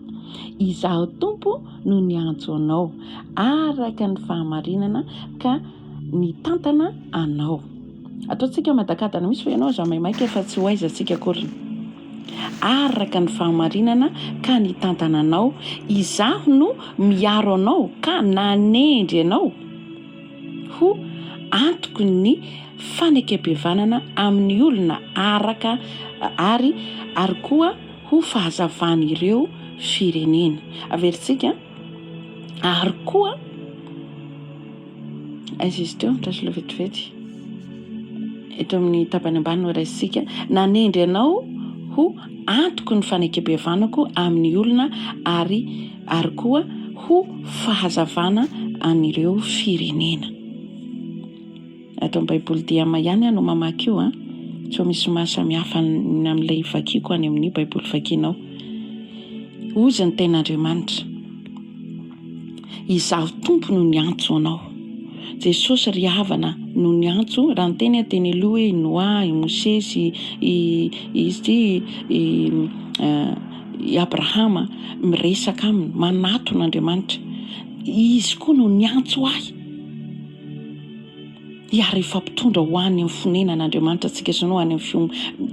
[SPEAKER 1] Izaho Tompo no niantso anao araka ny fahamarinana ka nitantana anao. Ataontsika madakadana mihitsy fa ianao aza maimaika fa tsy ho aiza tsika akory. Araka ny fahamarinana ka nitantana anao, izaho no miaro anao ka nanendry anao ho antoko ny fanekem-pihavanana amin'ny olona araka ary ary koa ho fahazavan'ireo firenena. Averintsika ary koa, aiza izy teo? Andraso vetivety. Eto amin'ny tapany ambany no raisintsika. Nanendry anao ho antoko ny fanekem-pihavanako amin'ny olona ary ary koa ho fahazavana an'ireo firenena. Ato amin'ny Baiboly DIAMA ihany aho no mamaky io an! Sao misy maha samy hafa ny amin'ilay ivakiako any amin'io Baiboly vakianao. Hozy ny Tenin'Andriamanitra, Izaho Tompo no niantso anao. Jesosy ry havana no niantso, raha niteny aho teny aloha hoe i Noa, i Mosesy, i izy ity i i Abrahama miresaka aminy, manatona Andriamanitra. Izy koa no niantso ahy. hiara hifampitondra ho any amin'ny fonenana Andriamanitra antsika sy ny ho any amin'ny fiom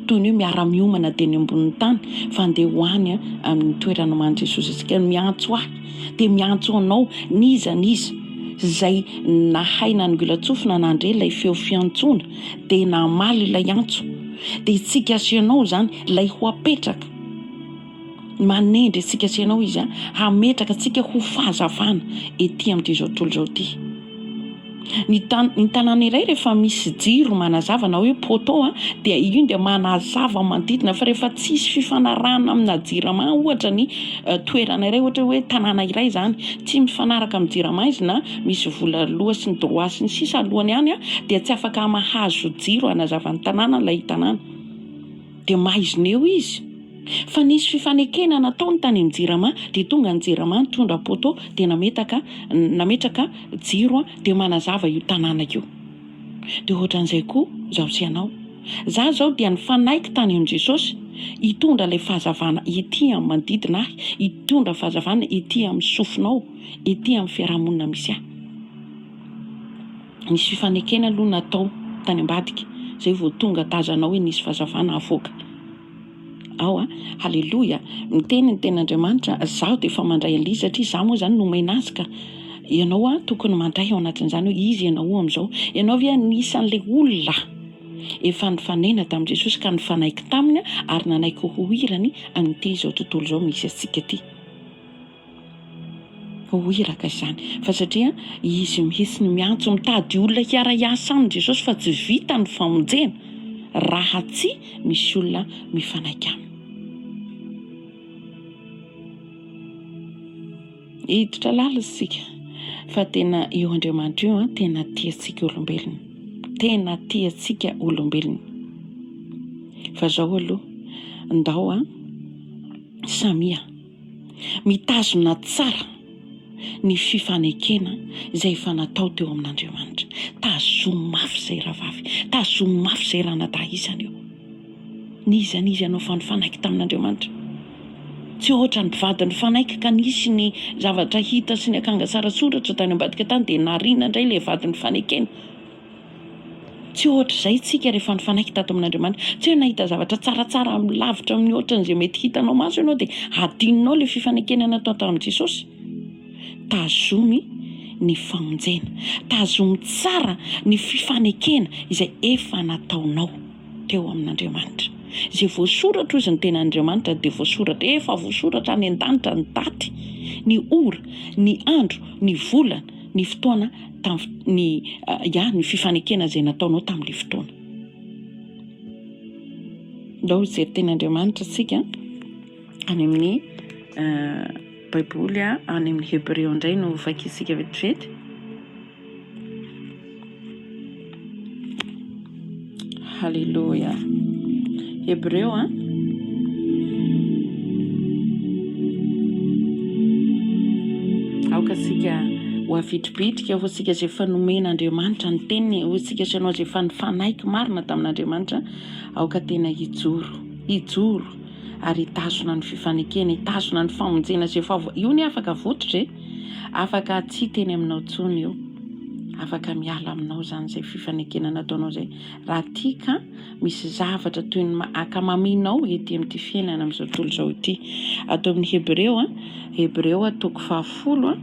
[SPEAKER 1] toy ny hoe miara miomana dia ny ambonin'ny tany fa andeha ho any amin'ny toerana omanin'i Jesosy antsika no miantso ahy dia miantso anao n'iza n'iza izay nahay nanongilan-tsofina nandre ilay feo fiantsoana dia namaly ilay antso dia isika sy ianao izany ilay ho apetraka Manendry antsika sy ianao Izy hametraka antsika ho fahazavana ety amin'ity izao tontolo izao ity. Ny tany, ny tanàna iray rehefa misy jiro manazava na hoe poteau a, dia iny dia manazava manodidina fa rehefa tsisy fifanarahana amina jirama ohatra ny toerana iray, ohatra hoe tanàna iray izany, tsy mifanaraka amin'ny jirama izy na misy vola aloa sy ny droit sy ny sisa alohany ihany a, dia tsy afaka mahazo jiro hanazava ny tanàna ilay tanàna. Dia maizina eo izy.
[SPEAKER 2] Fa nisy fifanekena nataony tany amin'ny jirama dia tonga ny jirama nitondra poteau dia nametaka nametraka jiro dia manazava io tanàna io. Dia ohatran'izay koa izaho sy ianao. Izaho izao dia nifanaiky tany amin'i Jesosy hitondra ilay fahazavana ety amin'ny manodidina ahy, hitondra fahazavana ety amin'ny sofinao, ety amin'ny fiarahamonina misy ahy. Nisy fifanekena aloha natao tany ambadika zay vao tonga tazana hoe nisy fazavana avoaka ao a! Haleloia! Miteny ny Tenin'Andriamanitra, zaho dia efa mandray an'ly satria za moa zany nomena azy ka! Ianao a tokony mandray ao anatin'izany hoe iza ianao amizao? Ianao ve anisan'le olona efa nifanena tamin'i Jesosy ka nifanaiky taminy ary nanaiky ho hirany an'ity izao tontolo izao misy antsika ty? Ho iraka izany. Fa satria Izy mihitsy no miantso, mitady olona hiara-hiasa aminy Jesosy fa tsy vita ny famonjena raha tsy misy olona mifanaiky Aminy. Hiditra lalina isika fa tena io Andriamanitra io an, tena tia antsika olombelona. Tena tia antsika olombelona. Fa zao aloha, ndao an, samia. Mitazona tsara ny fifanekena izay efa natao teo amin'Andriamanitra. Tazomy mafy izay rahavavy, tazomy mafy izay ranadahy isany eo. N'iza n'iza ianao fa nifanaiky tamin'Andriamanitra. Tsy hoatran'ny mpivady nifanaiky ka nisy ny zavatra hita sy ny akanga sara soratra tany ambadika tany dia nariana indray ilay vady nifanekena. Tsy ohatr'izay isika rehefa nifanaiky tato amin'Andriamanitra. Tsy hoe nahita zavatra tsaratsara amin'ny lavitra amin'ny ohatran'izay mety hitanao maso ianao dia hadinonao ilay fifanekena natao tamin'i Jesosy. Tazomy ny famonjena. Tazomy tsara ny fifanekena izay efa nataonao teo amin'Andriamanitra. Izay voasoratra hozy ny tenan'Andriamanitra dia voasoratra. Efa voasoratra any an-danitra ny daty, ny ora, ny andro, ny volana. ny fotoana tamin'ny ya ny fifanekena izay nataonao tamin'ilay fotoana. Ndao hijery teny Andriamanitra isika any amin'ny baiboly any amin'ny hebreo indray no vakiantsika vetivety. Haleloia. Hebreo a. Aoka sika ho avitribitrika ho sika izay efa nomen'Andriamanitra ny teniny, ho sika sanao izay efa nifanaiky marina tamin'Andriamanitra, aoka tena hijoro, hijoro ary hitazona ny fifanekena, hitazona ny famonjena izay efa io ny afaka vototra e. Afaka tsy hiteny aminao intsony io. Afaka miala aminao izany izay fifanekena nataonao izay. Raha tia ka misy zavatra toy ny maha akamaminao ety amin'ity fiainana amin'izao tontolo izao ity. Ato amin'ny Hebreo, Hebreo toko fahafolo,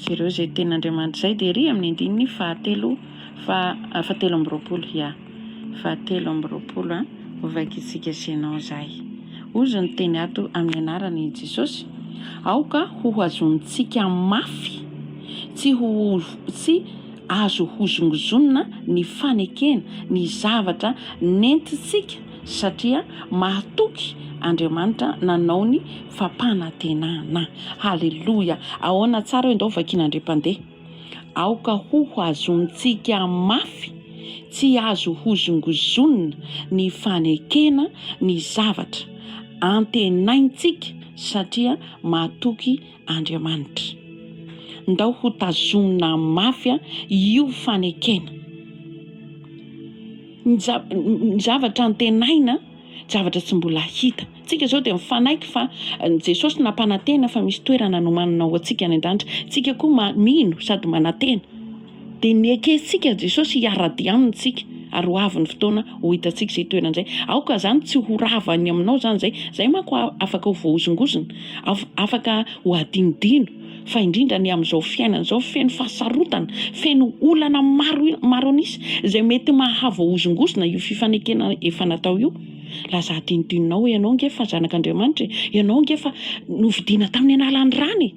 [SPEAKER 2] jereo izay tenin'Andriamanitra izay dia ery amin'ny andininy fahatelo, fahatelo amby roapolo, ia. fa telo amby roapolo an! Hovaikitsika Génon zay. Ozy ny teny ato amin'ny anaran' i Jesosy, Aoka hohazontsika mafy tsy ho tsy azo hozongozonina ny fanekena ny zavatra nentintsika satria mahatoky Andriamanitra nanao ny fampanantenana. Haleloia! Ahoana tsara eo ndao vakiana ndry mpandeha. Aoka ho azontsika mafy tsy azo hozongozonina ny fanekena ny zavatra antenaintsika satria matoky Andriamanitra. Ndao hotazomina mafy io fanekena ny zavatra antenaina. Zavatra tsy mbola hita. Tsika izao dia mifanaiky fa Jesosy nampanantena fa misy toerana nomanina ho antsika any an-danitra. Tsika koa mino sady manantena. Dia nekentsika Jesosy hiara-dia aminy tsika ary ho avy ny fotoana ho hitantsika izay toerana izay. Aoka izany tsy ho rava any aminao izany izay. Izay manko afaka ho voahozongozona, afaka ho hadinodino. fa indrindra ny amin'izao fiainana izao feno fahasarotana, feno olana maro maro an'isa izay mety mahavoahozongozona io fifanekena efa natao io. Lazà adinodinonao hoe ianao ange efa zanak'Andriamanitra e, ianao ange efa novidiana tamin'ny analan'ny rany e.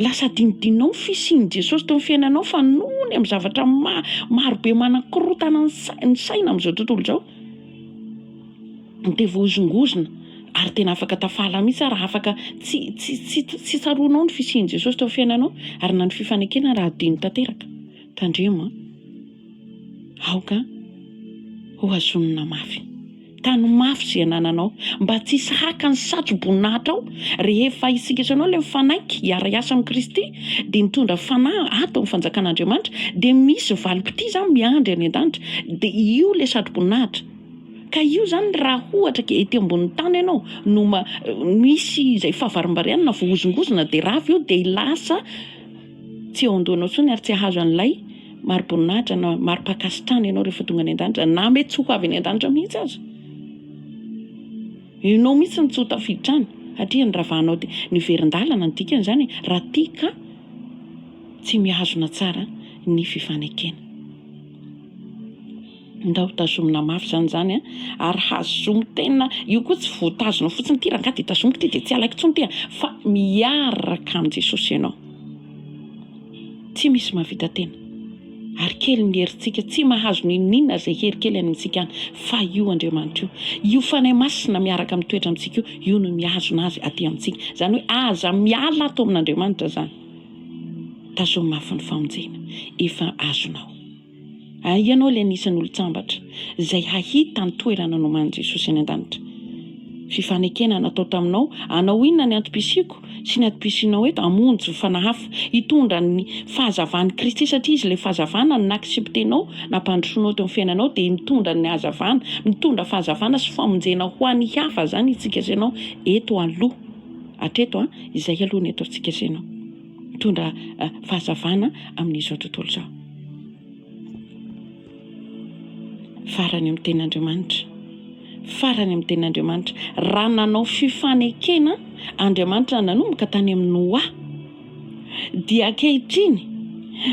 [SPEAKER 2] Lasa adinodinonao ny fisian'i Jesosy teo amin'ny fiainanao fa noho ny amin'ny zavatra ma- marobe manakorontana ny saina amin'izao tontolo izao, Nitevozongozona, ary tena afaka tafala mihitsy aho raha afaka tsy tsy tsy tsaroanao ny fisian'i Jesosy teo amin'ny fiainanao ary na ny fifanekena raha adino tanteraka. Tandremo an! Aoka ho hazonina mafy. Tano mafy izay anananao mba tsy hisy haka ny satro-boninahitrao. Rehefa isika sy ianao ilay mifanaiky hiara-hiasa amin'i Kristy dia mitondra fanahy ato amin'ny fanjakan'Andriamanitra dia misy valim-potia izany miandry any an-danitra dia io ilay satro-boninahitra. Ka io zany raha ohatra ka ety ambony tany enao no misy izay fahavarimbariana na voahozongozona de rava io de lasa tsy eo andohanao intsony ary tsy ahazo an'ilay mariboninahitra na maripankasitrahana enao rehefa tonga any andanitra na mety tsy ho avy any andanitra mihitsy aza enao mihitsy no tsy ho tafiditra any satria noravanao de niverindalana ny dikany zany e raha tia ka tsy mihazona tsara ny fifanekena. Ndao tazomina mafy zany zany a ary hazomy tena io koa tsy voatazona fotsiny ty rangahy de tazomiko ty de tsy alaiko tsony ty a fa miaraka amin'i Jesosy ianao tsy misy mahavita tena ary kely ny herintsika tsy mahazo n'inon'inona zay hery kely any amintsika any fa io Andriamanitra io io Fanahy Masina miaraka mitoetra amintsika io io no mihazona azy aty amintsika zany hoe aza miala ato amin'Andriamanitra zany tazomy mafy ny famonjena efa azonao Hay ianao ilay anisan'ny olon-tsambatra izay hahita ny toerana noman'i Jesosy any an-danitra. Fifanekena natao taminao, hanao inona ny antom-pisiako sy ny antom-pisianao eto? Hamonjy fanahy hafa, hitondra ny fahazavan'i Kristy, satria Izy ilay fahazavana, ny naksiptenao, nampandrosoanao teo amin'ny fiainanao dia mitondra ny hazavana, mitondra fahazavana sy famonjena ho an'ny hafa, izany itsika sy ianao eto aloha, hatreto an, izay aloha ny ataontsika sy ianao. mitondra fahazavana amin'izao tontolo izao. Farany amin'ny tenin'Andriamanitra. Farany amin'ny tenin'Andriamanitra. Raha nanao fifanekena Andriamanitra nanomboka tany amin'ny Noa, dia ankehitriny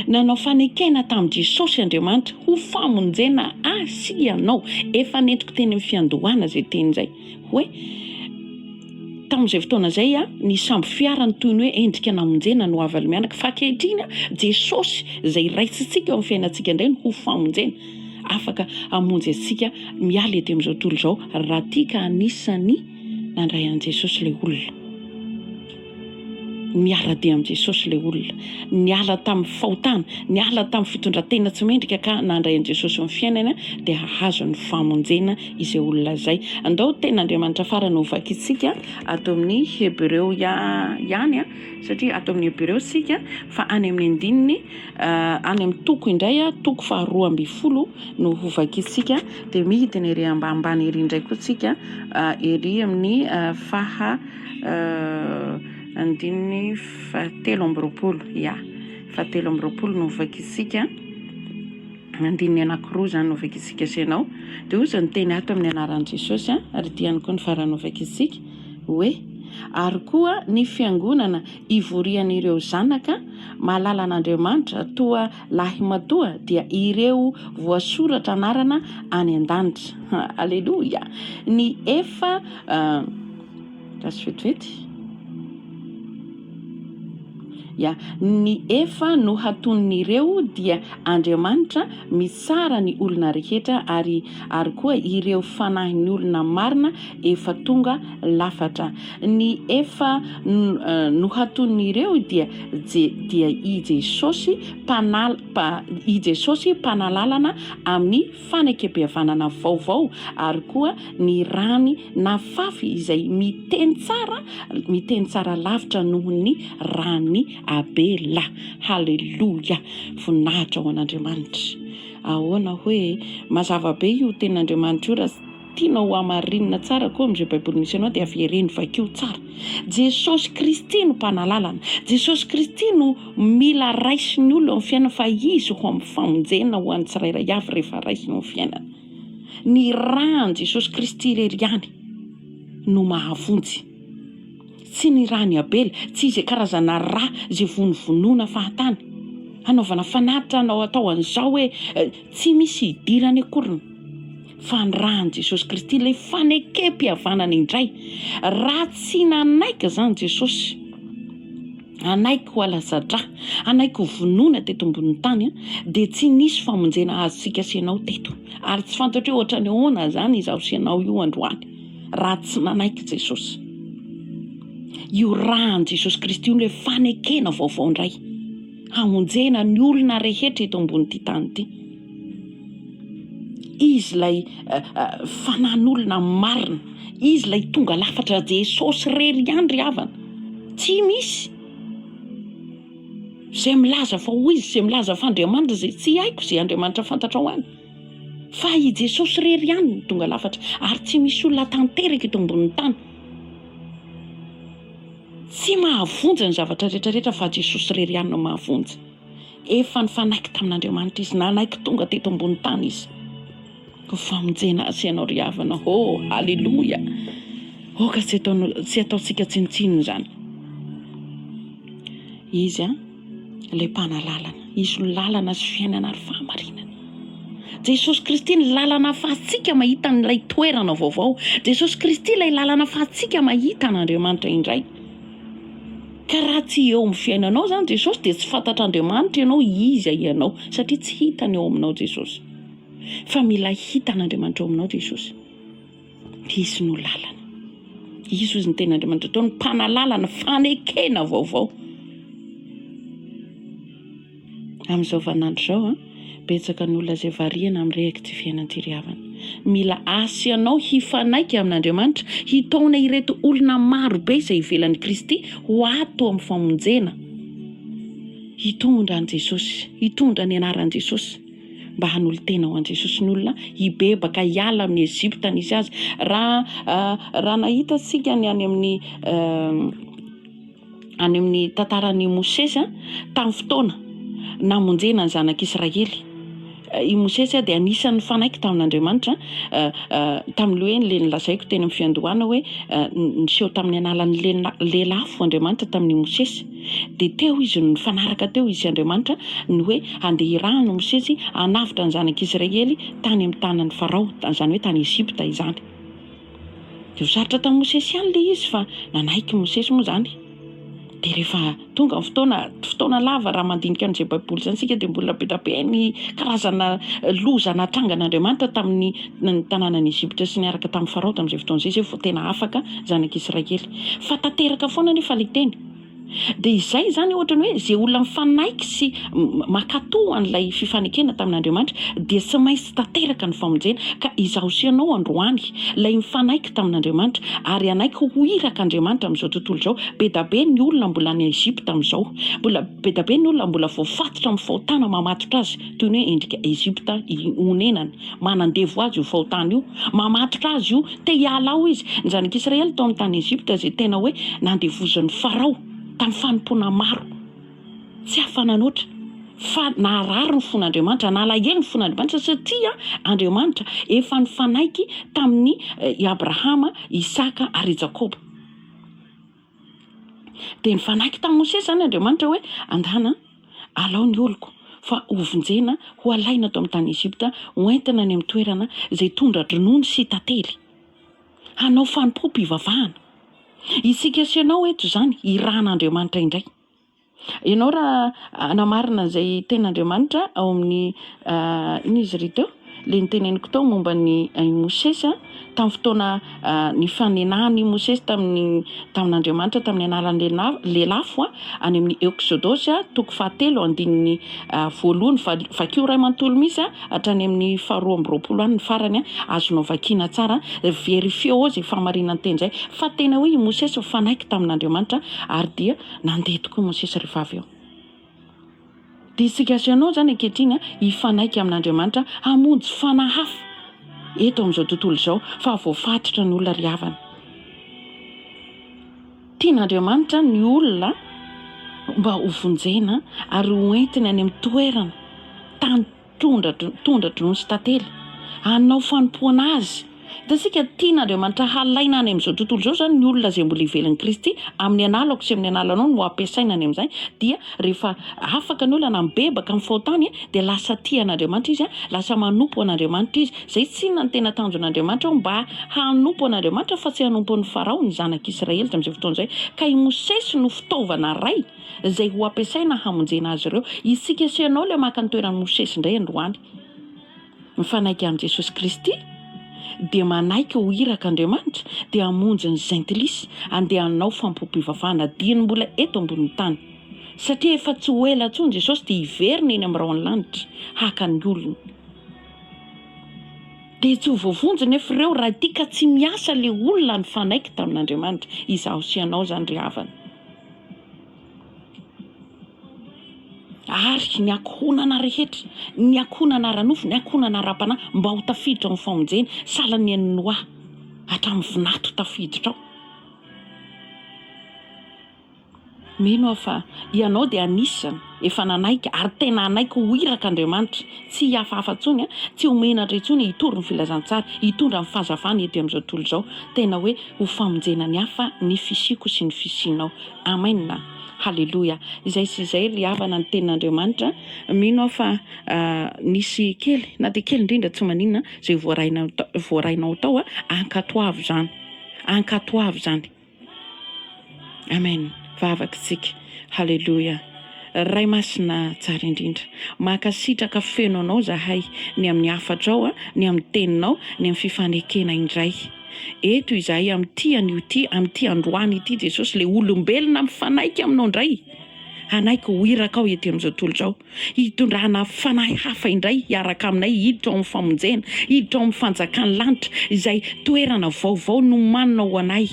[SPEAKER 2] nanao fanekena tamin'i Jesosy Andriamanitra ho famonjena ahy sy ianao. Efa nentiko teny amin'ny fiandohana izay teny izay hoe Tamin'izay fotoana izay, ny sambo fiarany toy ny hoe endrika namonjena no havany mianaka, fa ankehitriny, Jesosy izay Raisintsika eo amin'ny fiainantsika indray no ho famonjena, afaka hamonjy antsika miala ety amin'izao tontolo izao, raha tia ka anisan'ny nandray an'i Jesosy ilay olona. Miara-dia amin'i Jesosy ilay olona niala tamin'ny fahotana, niala tamin'ny fitondran-tena tsy mendrika ka nandray an'i Jesosy amin'ny fiainany dia hahazo ny famonjena izay olona izay. Andao ny Tenin'Andriamanitra farany ho vakintsika ato amin'ny Hebreo ihany satria ato amin'ny Hebreo isika fa any amin'ny andininy any amin'ny toko indray, toko faharoa ambin'ny folo no ho vakintsika dia midina ery ambanimbany ery indray koa isika ery amin'ny faha andininy fahatelo amby roapolo, ya, fahatelo amby roapolo no hovakintsika, andininy anankiroa izany no hovakintsika sy ianao, dia hoy izy niteny ato amin'ny anaran'i Jesosy an, ary ity ihany koa ny farany hovakintsika, hoe, ary koa ny fiangonana ivorian'ireo zanaka mahalala an'Andriamanitra toa lahimatoa dia ireo voasoratra anarana any an-danitra. Haleloia! Ny efa Gasy vetivety? Ya, ny efa nohaton'ireo dia Andriamanitra mitsara ny olona rehetra ary ary koa ireo fanahin'ny olona marina efa tonga lafatra. Ny efa nohaton'ireo dia je dia i Jesosy mpanal pa i Jesosy mpanalalana amin'ny fanekempihavanana vaovao ary koa ny rany nafafy izay miteny tsara miteny tsara lavitra noho ny ran'i Abela. Haleloia! Voninahitra ho an'Andriamanitra. Ahoana hoe mazava be io tenin'Andriamanitra io raha. Tianao ho hamarinina tsara koa amin'izay Baiboly misy anao dia avereno, vakio tsara. Jesosy Kristy no Mpanalalana. Jesosy Kristy no mila raisin'ny olona eo amin'ny fiainana fa Izy ho amin'ny famonjena ho an'ny tsirairay avy rehefa raisina eo amin'ny fiainana. Ny ran'i Jesosy Kristy irery ihany no mahavonjy. Tsy ny ran'i Abela, tsy izay karazana ra izay vonovonoina fahatany, hanaovana fanatitra hanao atao an'izao hoe tsy misy hidirany akoriny. Fanirahan'i Jesosy Kristy ilay fanekempihavanana indray. Raha tsy nanaiky izany Jesosy, hanaiky ho alaza-dra, hanaiky ho vonoina teto ambonin'ny tany, dia tsy nisy famonjena azontsika sy ianao teto. Ary tsy fantatro hoe ohatran'ny ahoana izany izaho sy ianao io androany, raha tsy nanaiky Jesosy. Io ran'i Jesosy Kristy io ilay fanekena vaovao indray, hamonjena ny olona rehetra eto ambonin'ity tany ity. Izy ilay fanan'olona marina, Izy ilay tonga lafatra, Jesosy irery ihany ry havana, tsy misy izay milaza fa hoy Izy, izay milaza fa Andriamanitra izay, tsy haiko izay Andriamanitra fantatrao any, fa i Jesosy irery ihany no tonga lafatra, ary tsy misy olona tanteraka eto ambonin'ny tany tsy mahavonjy ny zavatra rehetra rehetra fa Jesosy irery ihany no mahavonjy. Efa nifanaiky tamin'Andriamanitra izy, nanaiky tonga teto ambony tany izy, ho famonjena ahy sy ianao ry havana ô! Aleloia! Aoka tsy ataontsika ataontsika tsinontsinona izany. Izy an, ilay Mpanalalana, Izy no lalana sy fiainana ary fahamarinana. Jesosy Kristy ny lalana ahafahantsika mahita an'ilay toerana vaovao. Jesosy Kristy ilay lalana ahafahantsika mahita an'Andriamanitra indray. Ka raha tsy eo amin'ny fiainanao izany Jesosy dia tsy fantatr'Andriamanitra ianao Iza ianao satria tsy hitany ao aminao Jesosy. Fa mila hita an'Andriamanitra ao aminao Jesosy. Izy no lalana. Izy hozy ny tenin'Andriamanitra tao ny mpanalalana, fanekena vaovao. Amin'izao vaninandro izao an, betsaka ny olona izay variana amin'ny rehak'ity fiainana ity ry havana. Mila asa ianao hifanaiky amin'Andriamanitra, hitaona ireto olona maro be izay ivelan'i Kristy ho ato amin'ny famonjena, hitondra an'i Jesosy, hitondra ny anaran'i Jesosy, mba hanolo-tena ho an'i Jesosy ny olona, hibebaka, hiala amin'ny Egypta nisy azy. Raha, raha nahita isika ny any amin'ny. any amin'ny tantaran'i Mosesy tamin'ny fotoana namonjena ny zanak'Israely. I Mosesy dia anisan'ny nifanaiky tamin'Andriamanitra tamin'ilay hoe ilay nolazaiko teny amin'ny fiandohana hoe niseho tamin'ny analan'ny lelafo Andriamanitra tamin'i Mosesy. Dia teo izy no nifanaraka teo izy sy Andriamanitra ny hoe handeha hirahana Mosesy hanavotra ny zanak'Israely tany amin'ny tanan'i Farao, izany hoe tany Egypta izany. Dia ho sarotra tamin'i Mosesy ihany ilay izy fa nanaiky Mosesy moa izany. Dia rehefa tonga ny fotoana, fotoana lava raha mandinika an'izay Baiboly izany isika dia mbola be dia be ny karazana loza natrangan'Andriamanitra tamin'ny ny tanànan'i Egypta sy niaraka tamin'i Farao tamin'izay fotoana izay, izay vao tena afaka ny zanak'Israely. Fa tanteraka foana anefa ilay teny. Dia izay izany ohatra ny hoe izay olona mifanaiky sy mankato an'ilay fifanekena tamin'Andriamanitra dia tsy maintsy tanteraka ny famonjena ka izaho sy ianao androany ilay mifanaiky tamin'Andriamanitra ary hanaiky ho iraka Andriamanitra amin'izao tontolo izao bedabe ny olona mbola any Egypta amin'izao mbola bedabe ny olona mbola voafatotra amin'ny fahotana mamatotra azy toy ny hoe endrika Egypta i onenany, manandevo azy io fahotana io, mamatotra azy io, te hiala ao izy, ny zanak'Israely tao amin'ny tany Egypta izay tena hoe nandevozin'i Farao tamin'ny fanompoana maro tsy afa-nanoatra, fa naharary ny fon'Andriamanitra, nalahelo ny fon'Andriamanitra satria Andriamanitra efa nifanaiky tamin'ny i Abrahama, Isaka ary i Jakoba. Dia nifanaiky tamin'i Mosesy izany Andriamanitra hoe, Angano, alao ny oloko, fa hovonjena, hohalaina ato amin'ny tany Egypta, hoentina any amin'ny toerana izay tondra-dronono sy tantely. Hanao fanompoam-pivavahana. Isika sy ianao eto izany, irahan'Andriamanitra indray. Ianao raha hanamarina izay tenin'Andriamanitra ao amin'ny inona izy ry teo? Ilay niteneniko tao momba ny i Mosesy tamin'ny fotoana nifanenahany i Mosesy tamin'ny tamin'Andriamanitra tamin'ny anaran'ny lelafo any amin'ny Eksodosy toko fahatelo andininy voalohany vakio iray manontolo misy hatrany amin'ny faharoa amby roapolo any ny farany azonao vakiana tsara verifieo izay fahamarinan-teny izay fa tena hoe i Mosesy mifanaiky tamin'Andriamanitra ary dia Nandeha tokoa i Mosesy rehefa avy eo. Dia isika sy ianao izany ankehitriny hifanaiky amin'Andriamanitra hamonjy fanahy hafa eto amin'izao tontolo izao fa voafatotra ny olona ry havana. Tian'Andriamanitra ny olona mba hovonjena ary hoentiny any amin'ny toerana, tany Tondra, tondra drono sy tantely hanao fanompoana azy. Hitantsika, tian'Andriamanitra halaina any amin'izao tontolo izao izany ny olona izay mbola ivelan'i Kristy, amin'ny analako sy amin'ny analanao no hampiasaina any amin'izay, dia rehefa afaka ny olona na mibebaka amin'ny fahotany dia lasa tia an'Andriamanitra izy, lasa manompo an'Andriamanitra izy. Izay tsy inona ny tena tanjon'Andriamanitra ao, mba hanompo an'Andriamanitra fa tsy hanompo an'i Farao ny zanak'Israely tamin'izay fotoana izay, ka i Mosesy no fitaovana iray, izay ho ampiasaina hamonjena azy ireo. Isika sy ianao ilay maka ny toeran'i Mosesy indray androany. Mifanaiky amin'i Jesosy Kristy dia manaiky ho iraka Andriamanitra dia hamonjy ny Jentilisa handeha hanao fampom-pivavahana dieny mbola eto ambonin'ny tany. Satria efa tsy ho ela intsony Jesosy dia hiverina eny amin'ny rahon'ny lanitra haka ny olony. Dia tsy ho voavonjy nefa ireo raha ity ka tsy miasa ilay olona nifanaiky tamin'Andriamanitra. Izaho sy ianao izany ry havana. ary ny ankohonana rehetra, ny ankohonana ara-nofo, ny ankohonana ara-panahy, mba ho tafiditra ao amin'ny famonjena, sahala ny an'i Noa, hatramin'ny vinanto ho tafiditra ao. Mino aho fa ianao dia anisany Efa nanaiky ary tena hanaiky ho iraka Andriamanitra, tsy hihafahafa intsony, tsy ho menatra intsony hitory ny filazantsara, hitondra ny fahazavana eto amin'izao tontolo izao. Tena hoe ho famonjena ny hafa ny fisiako sy ny fisianao. Amen! Haleloia! Izay sy izay ry havana ny Tenin'Andriamanitra, mino aho fa nisy kely na dia kely indrindra tsy maninona izay voarainao tao, ankatoavo izany, ankatoavo izany. Amen vavaka tsika haleloia Ray masina tsara indrindra mankasitraka feno anao zahay ny amin'ny hafatrao a ny amin'ny teninao ny amin'ny fifanekena indray eto izahay amin'ity anio ity amin'ity androany ity Jesosy le olombelona mifanaiky aminao indray hanaiky ho irakao ety amin'izao tontolo izao Hitondrana fanahy hafa indray hiaraka aminay hiditra ao amin'ny famonjena, hiditra ao amin'ny fanjakan'ny lanitra, izay toerana vaovao nomanina ho anay.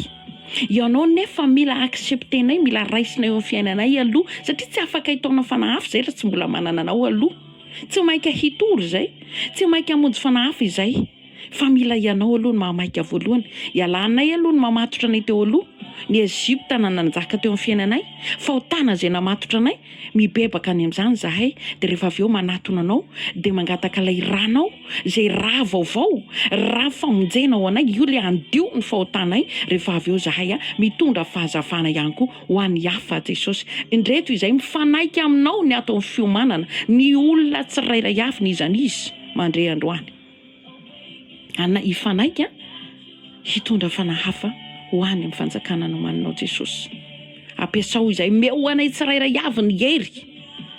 [SPEAKER 2] Ianao anefa mila accepter-nay, mila raisinao eo amin'ny fiainanay aloha, satria tsy afaka hitaona fanahy hafa izay raha tsy mbola manana anao aloha. Tsy mainka hitory izay, tsy mainka hamonjy fanahy hafa izay. Fa mila ianao aloha no mahamaika voalohany. Ialanay aloha ny mamatotra anay teo aloha, ny Egypta na nanjaka teo amin'ny fiainanay, fahotana izay namatotra anay, mibebaka any amin'izany izahay, dia rehefa avy eo manatona anao, dia mangataka ilay ranao, izay ra vaovao, ra famonjena ho anay, io ilay handio ny fahotanay, rehefa avy eo izahay a, mitondra fahazavana ihany koa ho an'ny hafa, Jesosy, indreto izahay mifanaiky aminao ny ato amin'ny fiomanana, ny olona tsirairay avy, ny izan'izy, mandre androany. Ana hifanaiky hitondra fanahy hafa ho any amin'ny fanjakana nomaninao Jesosy. Ampiasao izay omeo ho anay tsirairay avy ny hery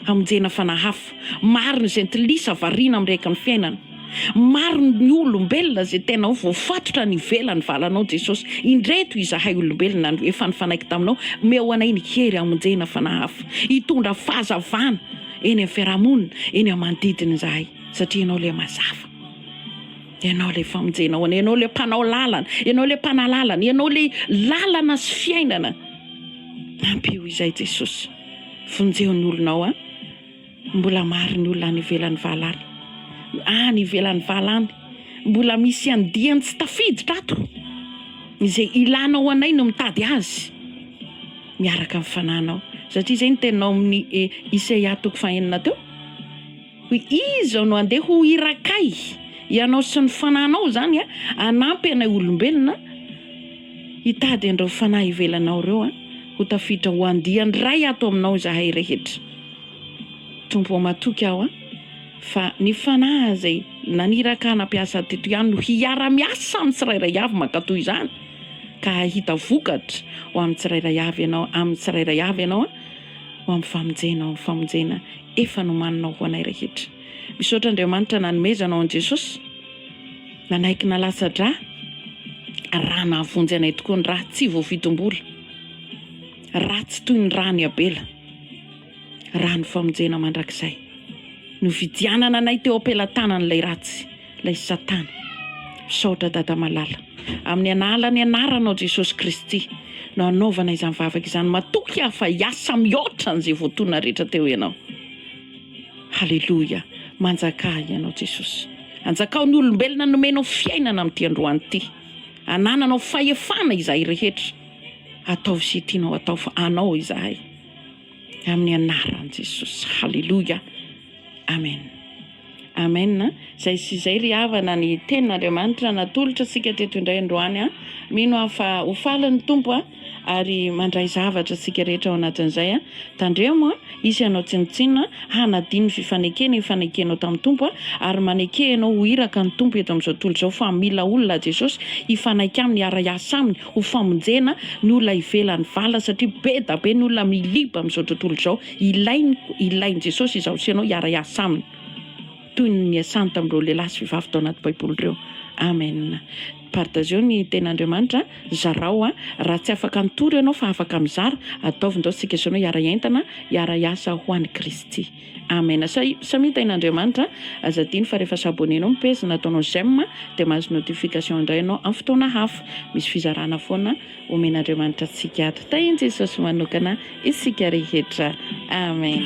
[SPEAKER 2] hamonjena fanahy hafa. Maro ny jentilisa variana amin'ny rehaky ny fiainana. Maro ny olombelona izay tena hoe voafatotra any ivelan'ny valanao Jesosy. Indreto izahay olombelona no efa nifanaiky taminao. Omeo ho anay ny hery hamonjena fanahy hafa. Hitondra fahazavana eny amin'ny fiarahamonina, eny amin'ny manodidina izahay. Satria Ianao ilay Mazava. Ianao ilay famonjena ho anay. Ianao ilay Mpanao lalana. Ianao ilay Mpanahy lalana. Ianao ilay lalana sy fiainana. Ampio izay Jesosy. Vonjeo ny olonao a. Mbola maro ny olona any ivelan'ny vala any. Any ivelan'ny vala any. Mbola misy andiany tsy tafiditra ato. Izay ilana ho anay no mitady azy. Miaraka amin'ny fananao. Satria izay ny teninao amin'ny eh, Isaia toko fahenina teo. Hoy izy, Izao no handeha ho irakay, ianao sy ny fanahinao izany a, hanampy anay olombelona hitady an'ireo fanahy ivelanao ireo a, ho tafiditra ho andiany iray ato aminao izahay rehetra. Tompo ô, matoky aho a, fa ny fanahy izay naniraka ahy nampiasa teto ihany no hiara-miasa amin'ny tsirairay avy mankatò izany, ka hahita vokatra ho amin'ny tsirairay avy ianao, amin'ny tsirairay avy ianao a, ho amin'ny famonjena, ho amin'ny famonjena. efa nomaninao ho anay rehetra. Misaotra Andriamanitra nanomezanao an'i Jesosy, nanaiky nalatsa-drà raha nahavonjy anay tokoa ny rà tsy voavidim-bola, rà tsy toy ny ràn'i Abela, ràn'ny famonjena mandrakizay. Novidianana anay teo am-pelatanan'ilay ratsy. Ilay satana. Misaotra Dada malala. Amin'ny an'alan'ny anaranao Jesosy Kristy no anaovana izany vavaka izany. Matoky aho fa hiasa mihoatra an'izay voatoana rehetra teo ianao. Haleloia. Manjakà ianao Jesosy. Anjakao ny olombelona nomenao fiainana amin'ity androany ity. Anananao fahefana izahay rehetra. Ataovy izay tianao atao fa anao izahay. amin'ny anaran'i Jesosy. Haleloia. Amen. Amen. Izay sy izay ry havana ny tenin'Andriamanitra natolotra antsika teto indray androany. Mino aho fa ho faly ny Tompo ary mandray zavatra antsika rehetra ao anatin'izay. Tandremo hisy anao tsinontsinona hanadino ny fifanekena ifanekenao tamin'ny Tompo ary maneke ianao ho iraka ny Tompo eto amin'izao tontolo izao fa mila olona Jesosy hifanaika aminy hiara-hiasa aminy. ho famonjena ny olona ivelan'ny vala satria be da be ny olona miliba amin'izao tontolo izao, ilainy ilain'i Jesosy izaho sy ianao hiara-hiasa aminy toy ny niasany tamin'ireo lehilahy sy vehivavy tao anaty baiboly ireo. Amen. Partageo ny tenin'Andriamanitra an, zarao an, raha tsy afaka nitory ianao fa afaka mizara, ataovy ndao tsika sy ianao hiara-hiaintana, hiara-hiasa ho an'i Kristy. Amen Samia tahin'Andriamanitra Aza adino fa rehefa s'abonner anao ny page na ataonao j'aime dia mahazo notification indray ianao amin'ny fotoana hafa Misy fizarana foana omen'Andriamanitra antsika ato Tahin'i Jesosy manokana isika rehetra Amen.